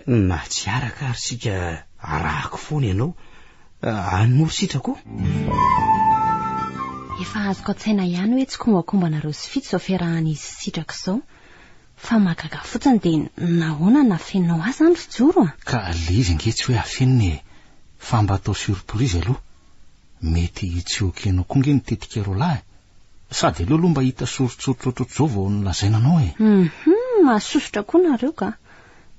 Na tsy araka ary sika arahako foana ianao any moa sitrako o. Efa azoko an-tsaina ihany hoe tsy kombakombanareo sy fito izao fiarahan'izy sy sitrako izao. Fa mahagaga fotsiny dia nahoana no afeninao ahy izany ry Joro a? Ka le izy ange tsy hoe afenina e, fa mba atao surprise aloha. Mety tsy ok anao koa ange ny tetik'ireo lahy Sady aleo aloha mba hita soritsoritra ohatrohatr'izao vao nolazaina anao e. Hum, mahasosotra koa nareo ka.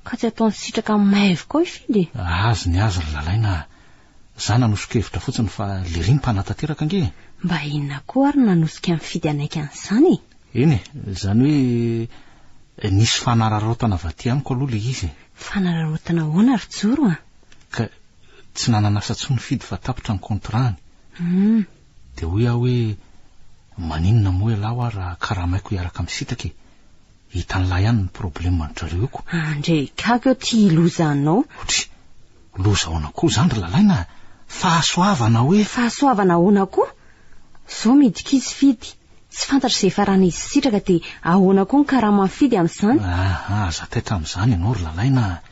Ka tsy ataony sitraka maivo koa i Fidy e. Azy ny azy ry Lalaina a. Za nanoso-kevitra fotsiny fa lery ny mpanatanteraka ange e. Mba inona koa ary no nanosika an'i Fidy hanaiky an'izany e? Eny e, izany hoe nisy fanararaotana vaty amiko aloha ilay izy e. Fanararaotana ahoana ry Joro a? Ka tsy nanan'asa intsony Fidy fa tapitra ny contrat-ny. Hum, Dia hoy aho hoe, Maninona moa ialahy hoa raha karamaiko hiaraka misintaka e! Hitan'lah ihany ny problème an-dry zareo io ko! Ndre gaga eo ty loza anao. Otry! Loza ahoana koa izany ry lalaina a! Fahasoavana hoe! Fahasoavana ahoana koa? Zao midika izy fidy, tsy fantatro izay faran'izy hisitraka dia ahoana koa ny karaman'i fidy amin'izany? Aha! Aza taitra amin'izany ianao ry lalaina a!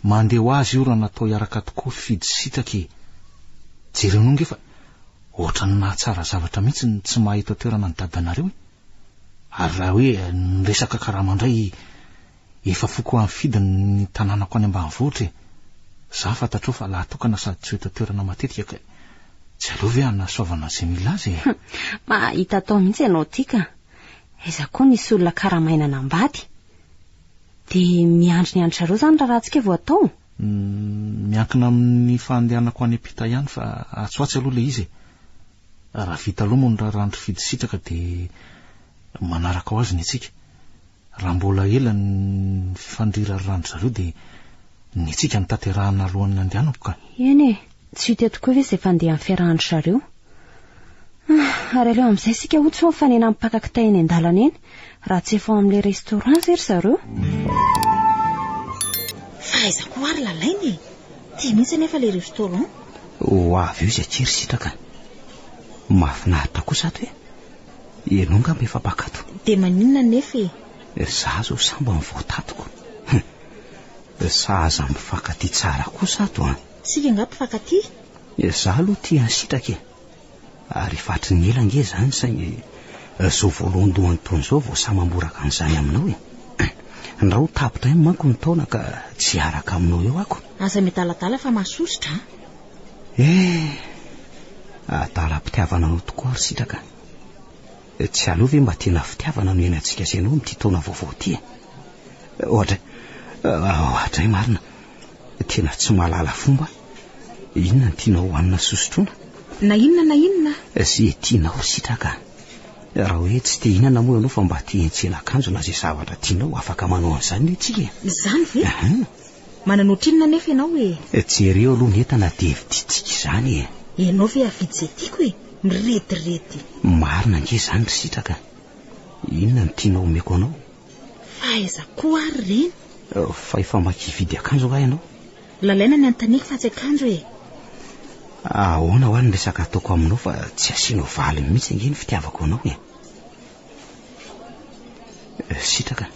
Mandeha ho azy io raha natao hiaraka tokoa fidy sy sitaka e! Jereo anao nge fa Ohatran'ny mahatsara zavatra mihitsy ny tsy mahay eto an-toerana ny dadanareo e! Ary raha hoe ny resaka karama indray, efa foko amifidy ny tanànako any ambanivohitra e! Za fantatrao fa lahatokana sady tsy ho eto an-toerana matetika ka e! Tsy aleo ve hanasoavana izay mila azy e! Mahahita atao mihitsy ianao ity ka! Aiza koa nisy olona karamaina nambady? Dia miandry ny an-dry zareo izany raharahantsika vao atao? Miankina amin'ny fandehanako any ampita ihany fa atsy ho atsy aloha ilay izy e! Raha vita aloha moa ny raharahan-dry Fidy Sitraka dia manaraka ho azy ny antsika. Raha mbola ela ny fifandrirarirahan-dry zareo dia ny antsika no tanterahina alohan'ny handehanako ka! Eny e! Tsy ho teto koa ve izay fandeha amin'ny fiarahan-dry zareo? Ah, ary aleo amin'izay isika hotsy hoe mifanena mipaka kitay eny an-dalana eny, raha tsy efa ao amin'ilay restaurant izay ry zareo. Fa aiza koa ary lalaina e? Ity mihitsy anefa ilay restaurant. Ho avy eo izay tsy ry sitraka an! Mahafinaritra kosa ato e! Ianao angamba efa mpakato? Dia maninona anefa e? Ry za izao sambany vao tatiko. Hum! Sahaza mifankatia tsara kosa ato an! Isika angaha mpifankatia? Dia za aloha tia an'i Sitraka e! ary efa hatry ny ela ange izany saingy izao voalohandohany toa an'izao vao sahy mamboraka an'izany aminao e! ndra ho tapitra ihany manko ny taona ka tsy hiaraka aminao eo ako! Aza miadaladala fa mahasosotra an! Eh! adalam-pitiavana anao tokoa ry Sitraka a! tsy aleo ve mba tena fitiavana no hiainantsika sy ianao amin'ity taona vaovao ity e! ohatra, ohatra e! marina Tena tsy mahalala fomba Inona no tianao hohanina sy hosotroina? Na inona na inona Izay tianao sitraka Raha hoe tsy te hinana moa ianao fa mba te hiantsena akanjo na izay zavatra tianao afaka manao an'izany ve tsika e? Izany ve? Aha. Manana ohatrinona anefa ianao e? Jereo aloha ny entana dia vidintsika izany e! Ianao ve hahavidy izay tiako e? Mirediredy. Marina ange izany ry sitraka Inona no tianao omeko anao? Fa aiza koa ary ireny? Fa efa maika hividy akanjo angaha ianao? Lalaina ny anontaniako fa tsy akanjo e! Ahoana hoa ny resaka ataoko aminao fa tsy asianao valiny mihitsy ange ny fitiavako anao e! Sitraka.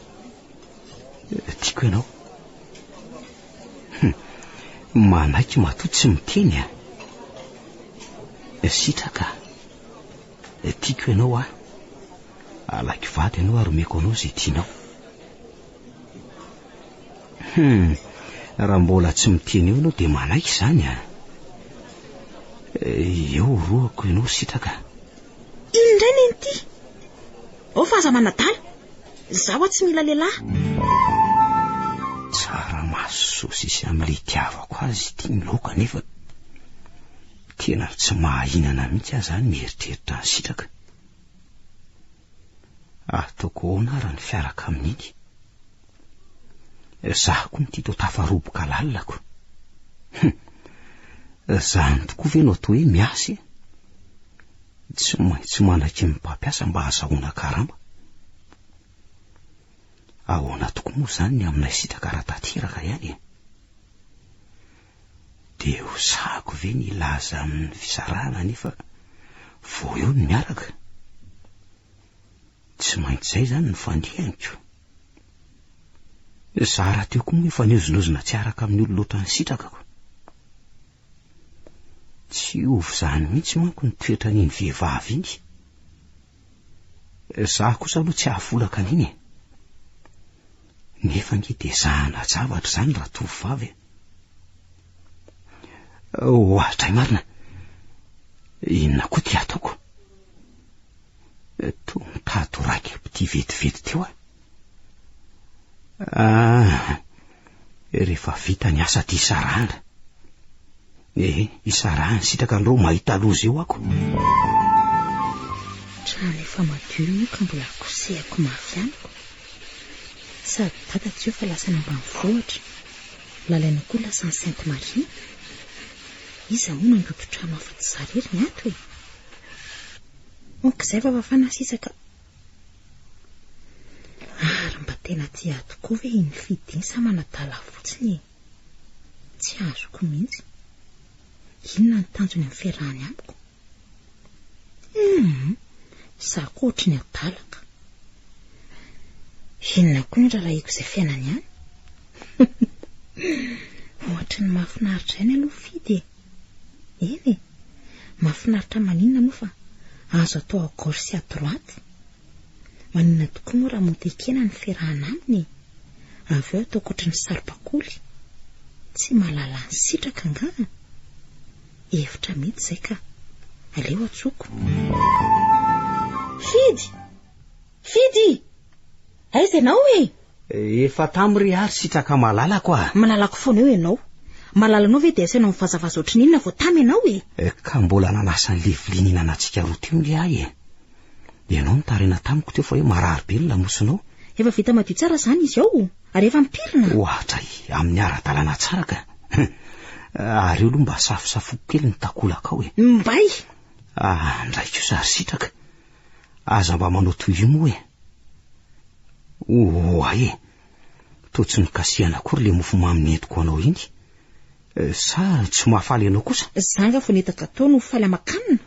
Tiako ianao. Hum. Manaiky matoa tsy miteny a! Sitraka. Eh, tiako ianao aho. Halako vady ianao ary omeko anao izay tianao. Hum, raha mbola tsy miteny eo ianao dia manaiky izany ah. Eh, eo rohako ianao ry sitraka. Iny indray ny an'ity. Ao fa aza manadala. Izaho aho tsy mila lehilahy. Tsara maso sosisy amin'ilay itiavako azy ity ny laoka nefa Tena tsy mahahinana mihitsy aho izany mieritreritra an'i Sitraka. Ataoko ahoana ary ny fiaraka amin'iny? Izaho koa mity toa tafaroboka lalako. Izany tokoa ve no atao hoe miasa e? Tsy maintsy manaky ny mpampiasa mba hazahoana karama. Ahoana tokoa moa izany ny aminay Sitraka raha tanteraka ihany e? Dia ho sahako ve ny hilaza amin'ny fisarahana anefa vao eo ny miaraka? Tsy maintsy izay izany no fandrianiko. Za rahateo koa moa efa niozonozona tsy araka amin'ny olona ohatran'ny sitrakako. Tsy hiova izany mihitsy manko ny toetran'iny vehivavy iny. Za kosa aloha tsy ahafolaka an'iny e. Nefa nge dia zahana zavatra izany raha tovovavy e. Ohatray marina. Inona koa ty ataoko? Toa mitady ho raikibity vetivety teo aho. Ah, rehefa vita ny asa ty sarahana. Eh, isarahana sitraka an'ireo mahita loza eo ako. Trano efa madio io ka mbola kosehako mafy amiko. Sady dada tsy eo fa lasa any ambanivohitra. Lalaina koa lasa any Sainte Marie. Iza hono handoto trano afa-tsy za rery ny ato e. Ok, izay fa fafana sisa ka. Ary mba tena tia ahy tokoa ve i Nifidin sa manadala ahy fotsiny e? Tsy azoko mihitsy. Inona ny tanjony amin'ny fiarahany amiko? Humm! Izaho koa ohatry ny adalaka. Inona koa ny raharahiako izay fiainany any? Ohatry ny mahafinaritra ihany aloha Fidy e! Eny e! Mahafinaritra maninona moa fa azo atao à gauche sy à droite. Maninona tokoa moa raha moden-kena no ferahana aminy e! Avy eo ataoko ohatry ny saribakoly. Tsy mahalala ny sitraka angaha? Hevitra mety izay ka. Aleo antsoiko. Fidy! Fidy! Aiza ianao e? Efa tam ry ary sitraka malalako ah. Malalako foana eo ianao. Malalanao ve dia asaina mivazavaza ohatrin'inona vao tam ianao e? Ka mbola nanasa an'ilay vilia nihinanantsika roa teo nge ahy e. Ianao nitarina tamiko teo fa hoe marary be ny lamosinao. Efa vita madio tsara izany izy ao ary efa ampirina. Ohatra e, amin'ny ara-dalana tsara ka. Ary eo aloha mba safosafoko kely ny takolakao e. Mbay! Ah, ndray kosa ry sitraka. Aza mba manao toy io moa e. Oa e, toa tsy nikasihana akory le mofo mamy nentiko anao iny. Eh, sa tsy mahafaly ianao kosa? Za nga vao nita gateau no faly aman-kanina.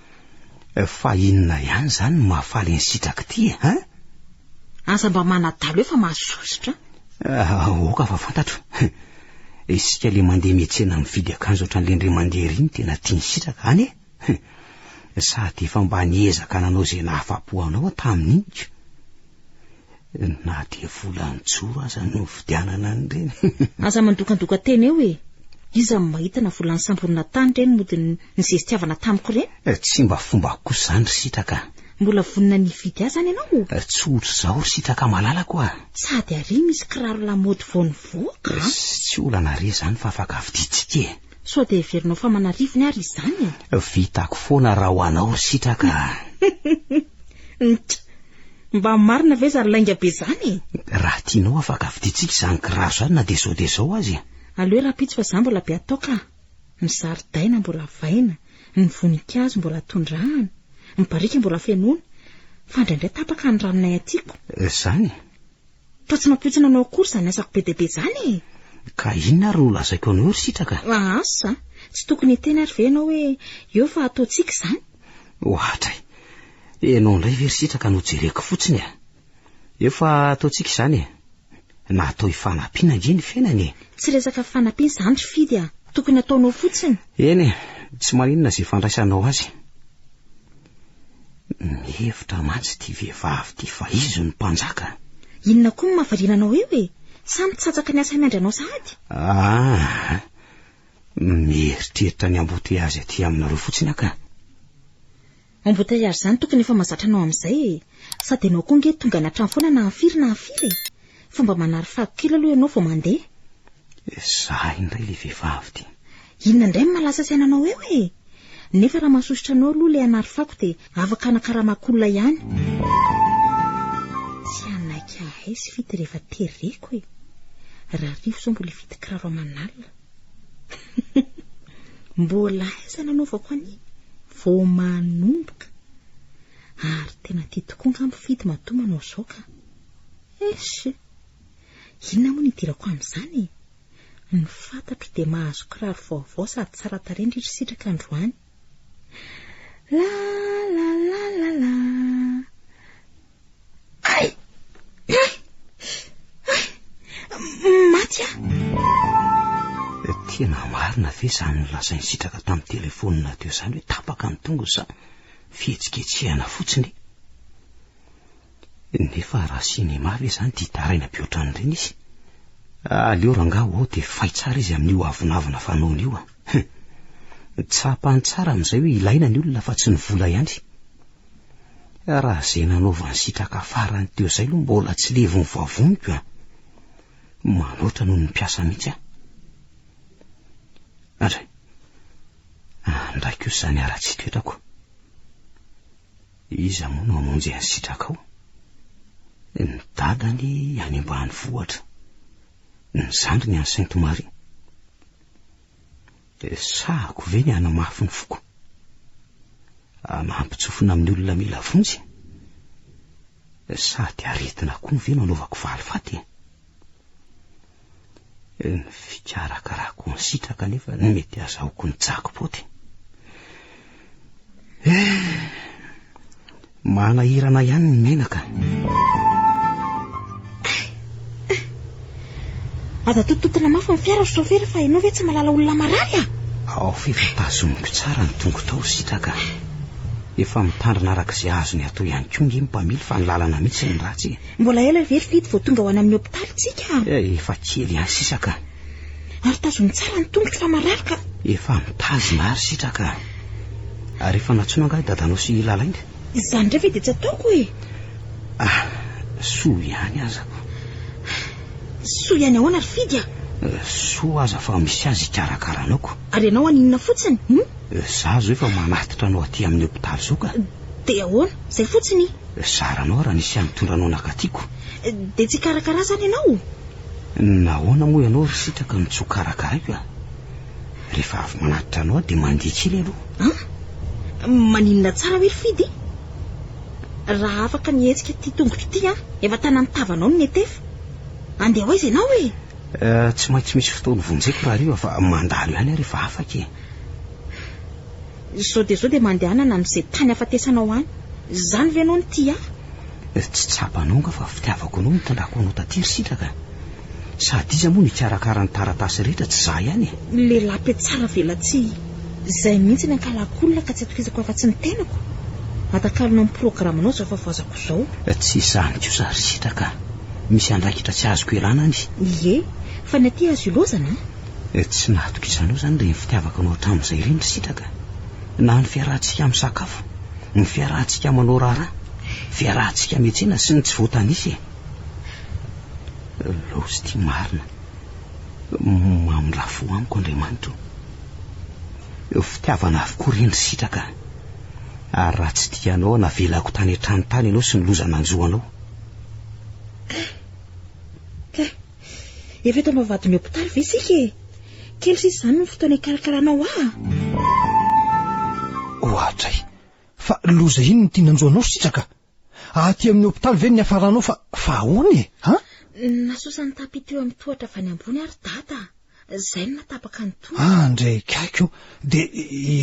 Eh, fa inona ihany zany no mahafaly ny sitraky ty e, hein? Aza mba manadalo e fa mahasosotra. Ah, aoka fa fantatro. Isika le mandeha mietsena mividy akanjo ohatran'le ndry mandeha ry no tena tian'ny sitraka, any e. Hum, sady efa mba niezaka nanao izay nahafa-po anao aho tamin'iny ka. Na dia volan-tsoro aza no novidianana an'ireny. Aza mandokandoka tena eo e! Iza no mahita na vola nisamborina tany ireny mody nizestiavana tamiko ireny? Eh, tsy mba fombako kosa izany ry Sitraka a! Mbola vonona ny hividy ahy izany ianao o? Eh, tsy ohatr'izao ry Sitraka malalako a! Sady àry misy kiraro lamaody vao nivoaka a! Tsy olana re izany fa afaka vidintsika e! Sao dia heverinao fa manarivony ary izany e? Vitako foana raha ho anao ry sitraka a! Ntt! Mba marina ve zany lainga be zany e? Raha tianao afaka vidintsika izany kiraro izany na dia zao dia zao aza e! Aleo rahampitso fa za mbola be atao ka! Ny zaridaina mbola vaina, ny voninkazo mbola tondrahana, ny barika mbola fenoina, fa indraindray tapaka ny ranonay atiako. Zany? Toa tsy nampoizina anao akory izany asako be dia be izany e! Ka inona ary no lazaiko anao ry Sitraka? Asa! Tsy tokony hiteny ary ve ianao hoe eo fa ataontsika izany? Ohatra e! Ianao indray ve ry Sitraka no jereko fotsiny e! Eo fa ataontsika izany e! Natao hifanampiana ange ny fiainana e! Tsy resaka fifanampiana izany ry Fidy a! Tokony ataonao fotsiny! Eny e! Tsy maninona izay fandraisanao azy. Mihevitra mantsy ity vehivavy ity fa izy no mpanjaka. Inona koa no mahavariana anao eo e? Sa mitsatsaka ny asa miandry anao sahady? Ah, mieritreritra ny amboteazy aty aminareo fotsiny aho ka. Embouteillage zany tokony efa mazatra anao amizay e! Sady enao koa nge tonga any an-trano foana na an-firy na an-firy e! Fomba manary fako kely aloha ianao vao mandeha. Izaho indray ilay vehivavy dia. Inona indray no mahalasa saina anao eo e? Nefa raha mahasosotra anao aloha ilay hanary fako dia afaka hanakaramako olona ihany. Tsy hanaiky hahay sy fity rehefa tereko e. Rarivo izao mbola hividy kiraro aman'alina. Mbola aiza no anaovako an'iny? Vao manomboka. Ary tena tia tokoa angamba fidy matoa manao izao ka. Eish! Inona moa no idirako amin'izany e! Ny fantatro dia mahazo kiraro vaovao sady tsara tarehy ndry ry Sitraka androany. La la la la la. Ay! Ay! Ay! Maty aho! Tena marina ve izany nolazain'i Sitraka tamin'ny telefonina teo izany hoe tapaka ny tongony sa fihetsiketsehana fotsiny e? Nefa raha cinéma ve zany dia hitaraina be ohatran'ireny izy? Aleo rangaha ho ao dia fay tsara izy amin'io avonavona fanaony io a. Tsapany tsara amin'izay hoe ilaina ny olona fa tsy ny vola ihany. Raha izay nanaovany sitraka farany teo izay aloha mbola tsy levon'ny vavoniko a. Manoatra noho ny mpiasa mihitsy a. Andray, andraiko izany ara-tsitoetrako. Iza moa no hamonjy an'i Sitrakao? Ny dadany any ambanivohitra. Ny zandriny any Sainte Marie. Dia sahako ve ny hanamafy ny foko? Hanampitsofina amin'ny olona mila vonjy? Sady aretina koa ve no anaovako valifaty? Ny fikarakarako ny sitraka anefa no mety azahoako ny jackpot. Eh, manahirana ihany ny menaka. Aza tototina mafy ny fiara ry chauffeur fa ianao ve tsy malala olona marary ah? Ao f'efa tazomiko tsara ny tongo tao ry sitraka. Efa mitandrina araka izay azony atao ihany koa nge ny mpamily fa ny lalana mihitsy no ratsy e. Mbola ela ve ry Fidy vao tonga ho any amin'ny hopitaly tsika? Eh, efa kely ihany sisa ka. Ary tazony tsara ny tongotro fa marary ka. Efa mitazona ary sitraka. Ary efa nantsoina angaha i dadanao sy i Lalainga? Izany indray ve dia tsy ataoko e. Ah, soa ihany aza ko. Soa ihany ahoana ry Fidy a? Eh, soa aza fa misy azy hikarakara anao ko. Ary ianao any inona fotsiny? Hum? Eh, za zo efa manatitra anao aty amin'ny hopitaly zo ka. Dia ahoana? Izay fotsiny? Zara anao raha nisy hamitondra anao nakatiako. Dia tsy hikarakara ahy izany ianao? Nahoana moa ianao ry sitraka no tsy ho karakaraiko a? Rehefa avy manatitra anao aho dia mandeha kely aloha. An? Maninona tsara hoe ry Fidy? Raha afaka nihetsika ity tongotro ity aho, efa tanan'ny tavanao no netefa. Handeha ho aiza ianao e? Tsy maintsy misy fotoana hovonjeko rahariva fa mandalo ihany aho rehefa afaka e. Zao dia zao dia mandehanana amze tany afatesanao any. Zany ve anao no tia ahy? Tsy tsapanao nga fa fitiavako anao no itondrako anao taty ry sitraka? Sady iza moa no hikarakara ny taratasy rehetra tsy za ihany e? Lehilahy be tsara velatsihy zay mihitsy ny ankalako olona ka tsy atokisako afatsy ny tenako. Atakalona ny programanao zao fa voazako zao. Tsy izany kosa ry sitraka, misy andraikitra tsy azoko ialana any. Ie, fa ny aty azo ilozana a! Tsy nahatokisana eo izany ry ny fitiavako anao hatramin'izay ireny ry Sitraka. Na ny fiarahantsika misakafo, ny fiarahantsika manao raharaha, fiarahantsika miantsena sy ny tsy voatanisa e! Laosy ity marina, mamindraha fo amiko Andriamanitra o! Fitiavana avokoa ireny ry Sitraka a! Ary raha tsy tia anao aho navelako tany an-trano tany ianao sy ny loza nanjo anao. Efa eto am-bavahadin'ny hopitaly ve isika e? Kely sisa izany ny fotoana hikarakaraanao ahy. Oadray! Fa loza inn ny tiana hanjo anao sitraka? Aty amin'ny hopitaly ve ny niafaranao fa fa ahoana e? An? Nasosan'ny tapis teo amin'ny tohatra avy any ambony ary dada. Zay no natapaka ny tongoko. Ah, ndray kaiky ô! Dia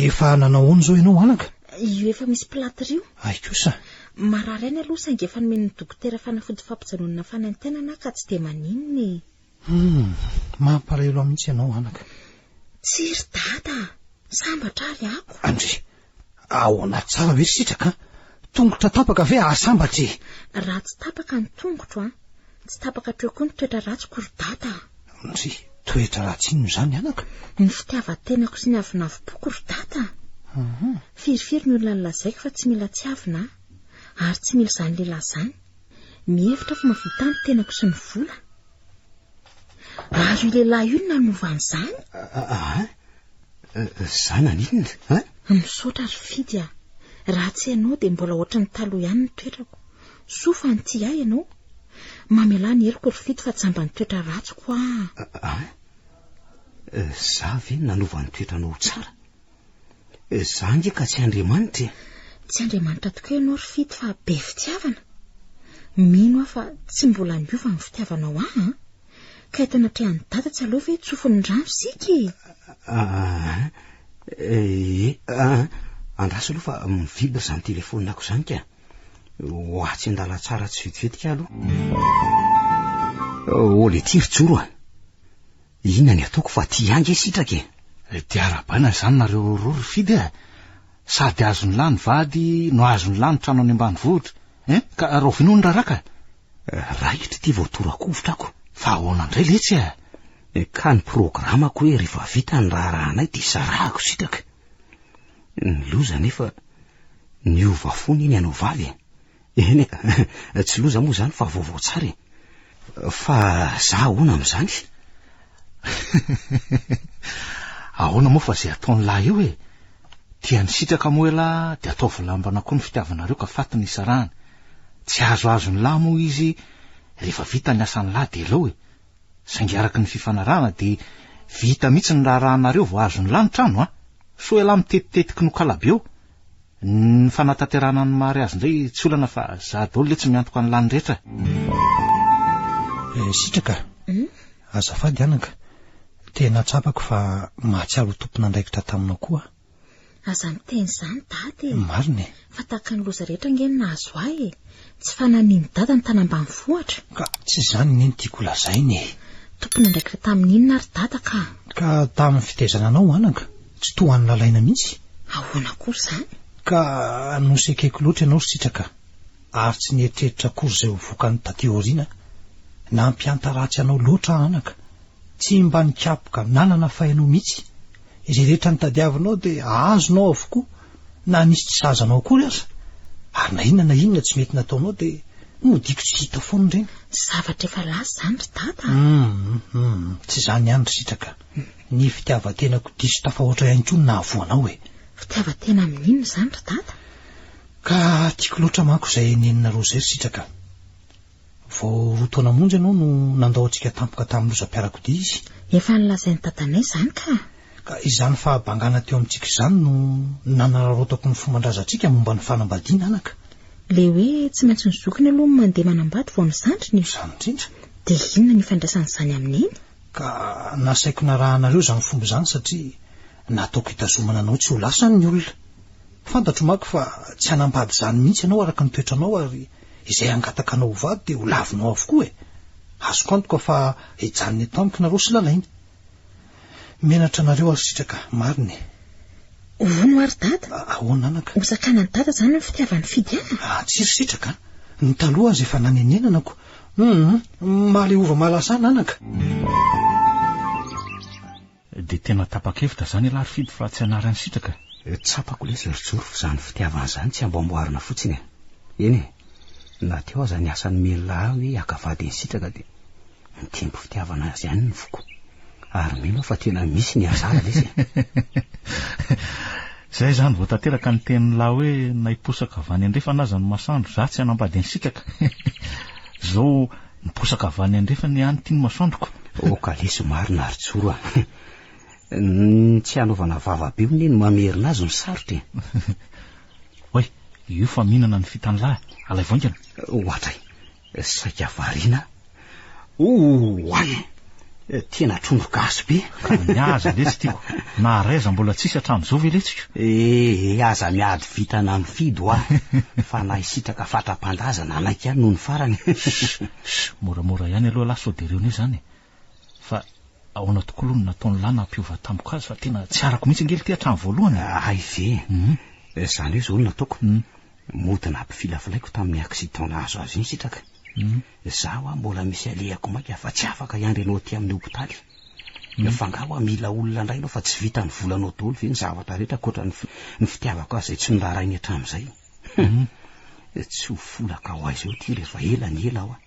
efa nanao ahoana izao ianao, anaka? Io efa misy plâtre io. Hay kosa! Marary any aloha saingy efa nomen'ny dokotera fanafody fampijanonana fanaintainana aho ka tsy dia maninona e. Humm, mampalahelo aho mihitsy ianao, anaka. Tsia ry dada a! Sambatra ary ako. Andry, Ahoana tsara ve sitraka an? Tongotra tapaka ve ahasambatra e? Raha tsy tapaka ny tongotro an, tsy tapaka hatreo koa ny toetra ratsiko ry Dada a! Ndry, toetra ratsy inona izany anaka? Ny fitiavan-tenako sy ny avonavim-poko ry Dada a! Firifiry ny olona nolazaiko fa tsy mila tiavina aho, ary tsy mila izany lehilahy izany. Mihevitra fa mahavita ahy ny tenako sy ny vola. Ary io lehilahy io nanova an'izany? Ah, za naninona? Ah? Misaotra ry Fidy ah. Raha tsy ianao dia mbola ohatry ny taloha ihany ny toetrako. Soa fa nitia ahy ianao. Mamelà ny heloko ry Fidy fa jamba ny toetra ratsiko ah. Ah? Za ve nanova ny toetranao ho tsara? Za nge ka tsy Andriamanitra e! Tsy Andriamanitra tokoa ianao ry Fito fa be fitiavana. Mino aho fa tsy mbola miova ny fitiavanao ahy an! Ka eto anatrehan'i Dada tsy aleo ve tsofin'ny rano isika e! Ah, e, ah, andraso aloha fa mivibre izany telefonako izany ka. Ho atsy an-dalantsara tsy vetivetika aloha. Oh, le tiry joro ah. Inona ny ataoko fa ty ihany nge sitraka e! Dia arahabaina izany nareo roa ry Fidy a! Sady azon'ny lahy ny vady no azon'ny lahy ny trano any ambanivohitra e! Ka rahoviana hono raharaha ka! Raikitra ity vao tora-kovitra ako fa ahoana indray letsy a! Ka ny programako hoe rehefa vita ny raharahanay dia sarahako sitraka! Ny loza anefa niova fona iny ianao vavy e! Eny e, tsy loza moa izany fa vaovao tsara e. Fa za ahoana amin'izany? Ahoana moa fa izay ataon'ny lahy eo e. Tiany sitraka moa elah dia ataovy lambana koa ny fitiavanareo ka faty ny hisarahany. Tsy azoazo ny lahy moa izy rehefa vita ny asan'ny lahy dia aleo e. Saingy araka ny fifanarahana dia vita mihitsy ny raharahanareo vao azon'ny lahy ny trano a. Sao elah mitetitetiky nokalabe eo. Ny fanatanterahana ny mariazy indray tsy olana fa za daholo le tsy miantoka an'i lany rehetra. Eh, sitraka a! Azafady anaka, tena tsapako fa mahatsiaro ho tompon'andraikitra taminao koa aho. Aza miteny izany dada e! Marina e! Fa tahaka ny loza rehetra ange ny nahazo ahy e! Tsy fanamian'i Dada ny tany ambanivohitra? Ka tsy izany anie no tiako holazaina e! Tompon'andraikitra tamin'ny inona ary Dada ka? Ka tamin'ny fitaizana anao anaka, tsy toa an'i Lalaina mihitsy? Ahoana akory izany? Ka nosekeko loatra ianao ry Sitraka ary tsy nieritreritra akory izay ho vokany taty aoriana? Nampiantaratsy anao loatra aho anaka, tsy mba nikapoka nanana fay anao mihitsy? Izay rehetra nitadiavinao dia azonao avokoa? Na misy tsy sahaza anao akory aza, ary na inona na inona tsy mety nataonao dia nodiako tsy hita foana ireny. Zavatra efa lasa izany ry Dada a! Humm, tsy izany ihany ry Sitraka, ny fitiavan-tenako diso tafahoatra ihany koa no nahavoa anao e! Fitiavan-tena amin'inona izany ry Dada? Ka tiako loatra manko izay nenina Roger ry Sitraka. Vao roa taona monja ianao no nandao antsika tampoka tamin'ny lozam-piarakodia izy. Efa nolazain'i dadanay izany ka. Ka izany fahabangana teo amintsika izany no nanararaotako ny fomban-drazantsika momba ny fanambadiana, anaka. Ilay hoe tsy maintsy ny zokiny aloha no mandeha manambady vao ny zandriny e. Izany indrindra. Dia inona ny ifandraisan'izany amin'ny neny? Ka nasaiko narahanareo izany fomba izany satria nataoko hitazomana anao tsy ho lasa ny olona. Fantatro manko fa tsy hanambady izany mihitsy ianao araka ny toetranao ary izay hangatakanao ho vady dia ho lavinao avokoa e! Azoko antoka fa hijanona eto amiko nareo sy lalainy. Menatra anareo ary sitraka. Marina e! Hono hoa ry dada? Ahoana anaka? Hosakanan'i dada izany ny fitiavany Fidy an? Ah, tsy ry sitraka an! Ny taloha aza efa nanenenanako. Hum, mahaleova mahalasana anaka. Dia tena tapa-kevitra zany ialahy ry Fidy fa tsy hanary an'i Sitraka e! Tsapako lesy ry Joro fa izany fitiavana izany tsy amboamboarina fotsiny e! Eny e! Na teo aza ny asan'i Mila hoe haka vady an'i Sitraka dia mitempo fitiavana azy ihany ny foko. Ary mino aho fa tena misy ny anjara lesy e! Izay izany vao tanteraka ny tenin'lah hoe na hiposaka avy any andrefana aza ny masoandro za tsy hanambady an'i Sitraka! Izao Miposaka avy any andrefana ihany ity ny masoandroko. Oh kalesy marina ry Joro a. Ny tsy hanaovana vava be hono e no mamerina azy no sarotra e. Oay, io fa mihinana ny fitan'ny lahy, alaivo haingana. Ohatray, saika variana. Oay! Tena trondro gasy be. Ka ny azy letsy tiako. Naharay aza mbola tsisy hatramin'izao ve letsiko? Eh eh aza miady vintana am fidy hoa fa na i sitraka fatra-panda aza nanaiky ihany nony farany. Sh! Moramora ihany aloha lahy sao dia reo ne zany e. Fa ahoana tokoa aloha no nataon'i lahy nampiova tamiko azy fa tena tsy arako mihitsy ange lty hatramin'ny voalohany e. Hay ve? Zany hoe zao no nataoko. Mody nampifilafilaiko tamin'ny accident nahazo azy iny sitraka. Za hoa mbola misy alehako maika fa tsy afaka hiandry anao aty amin'ny hopitaly. Fa nga hoa mila olona ndray ianao fa tsy vitan'ny volanao daholo ve ny zavatra rehetra ankoatra ny fitiavako azy izay tsy noraharainy hatramin'izay. Tsy ho folaka ho aiza eo ty rehefa ela ny ela hoa.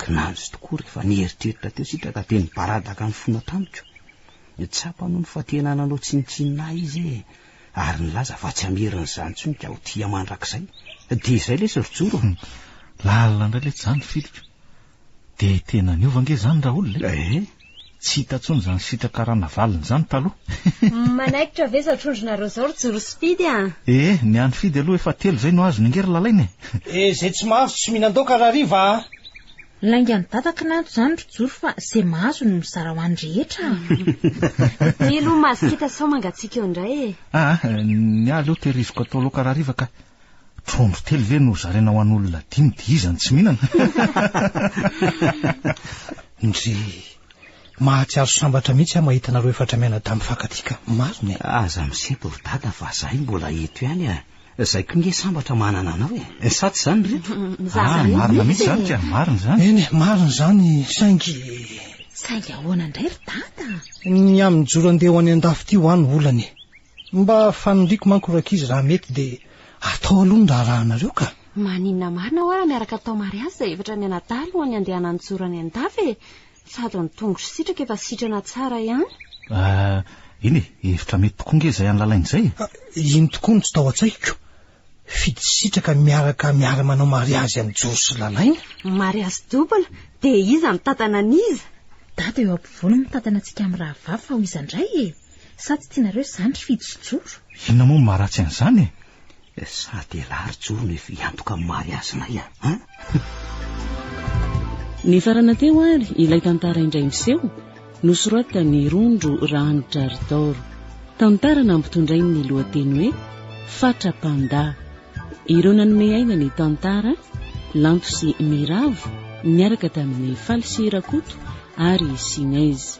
Kinanjo tokoa rehefa nieritreritra teo sitraka dia nibaradaka ny fona tamiko. Tsapany hono fa tena nanao tsinontsinona ahy izy e. ary nilaza fa tsy hamerina izany intsony ka ho tia mandrakizay. Dia izay lesy ry Joro a! Lalina indray letsy izany filiko. Dia tena niova ange izany Raoul e! Eh? Tsy hita intsony izany sitraka ranavalona izany taloha. Manaikitra ve izao trondronareo izao ry Joro sy Fidy a! Eh, ny an'i Fidy aloha efa telo izay no azony ange ry Lalaina e! Eh, izay tsy mahandro tsy mihinan-daoka Rahariva a! Laingan'i Dada k'nanto izany ry Joro fa ze mahazo no mizara ho an'ny rehetra a! Mila ho masikita sao mangatsiaka eo indray e! Ah, ny ahy aleo tehiriziko atao laoka rahariva ka! Trondro telo ve no zaraina ho an'olona dimy dia iza no tsy mihinana? Ndry! Mahatsiaro sambatra mihitsy aho mahita anareo efatra mianadahy mifankatia ka! Marina e! Aza misempo ry Dada fa zahay mbola eto ihany a! Zay ko nge sambatra manana anao e! Sa tsy zany ry reto? Ah, marina mihitsy zany ka, marina zany. Eny e, marina zany, saingy. Saingy ahoana indray ry Dada? Ny amin'ny jour andeha ho any an-dafy ity hoa no olana e! Mba faniriako manko rankizy raha mety dia atao aloha ny raharahanareo ka! Maninona marina hoa raha miaraka atao mariazy izay efatra mianadahy alohan'ny handehanan'ny jour any an-dafy e! Sady ny tongotr'i Sitraka efa sitrana tsara ihany. Ah, eny e, hevitra mety tokoa ange izay an'i Lalaina izay e! Iny tokoa no tsy tao an-tsaiko. Fidy Sitraka miaraka miara-manao mariazy amin'i Joro sy Lalaina. Mariazy double, dia iza mitantana an'iza? Dada eo ampovoany no mitantana antsika amin'ny rahavavy fa ho iza indray e? Sa tsy tianareo izany ry Fidy sy Joro? Inona moa no maharatsy an'izany e? Sady elah ry Jono efa hiantoka amin'ny mariazinay a. Ah. Nifarana teo ary ilay tantara indray miseho nosoratan'i Rondro Rahanidraridaoro. Tantara nampitondrain'ny lohateny hoe Fatra Panda. Ireo nanome aina ny tantara, Lanto sy Miravo, niaraka tamin'ny Faly sy Rakoto ary Sinez.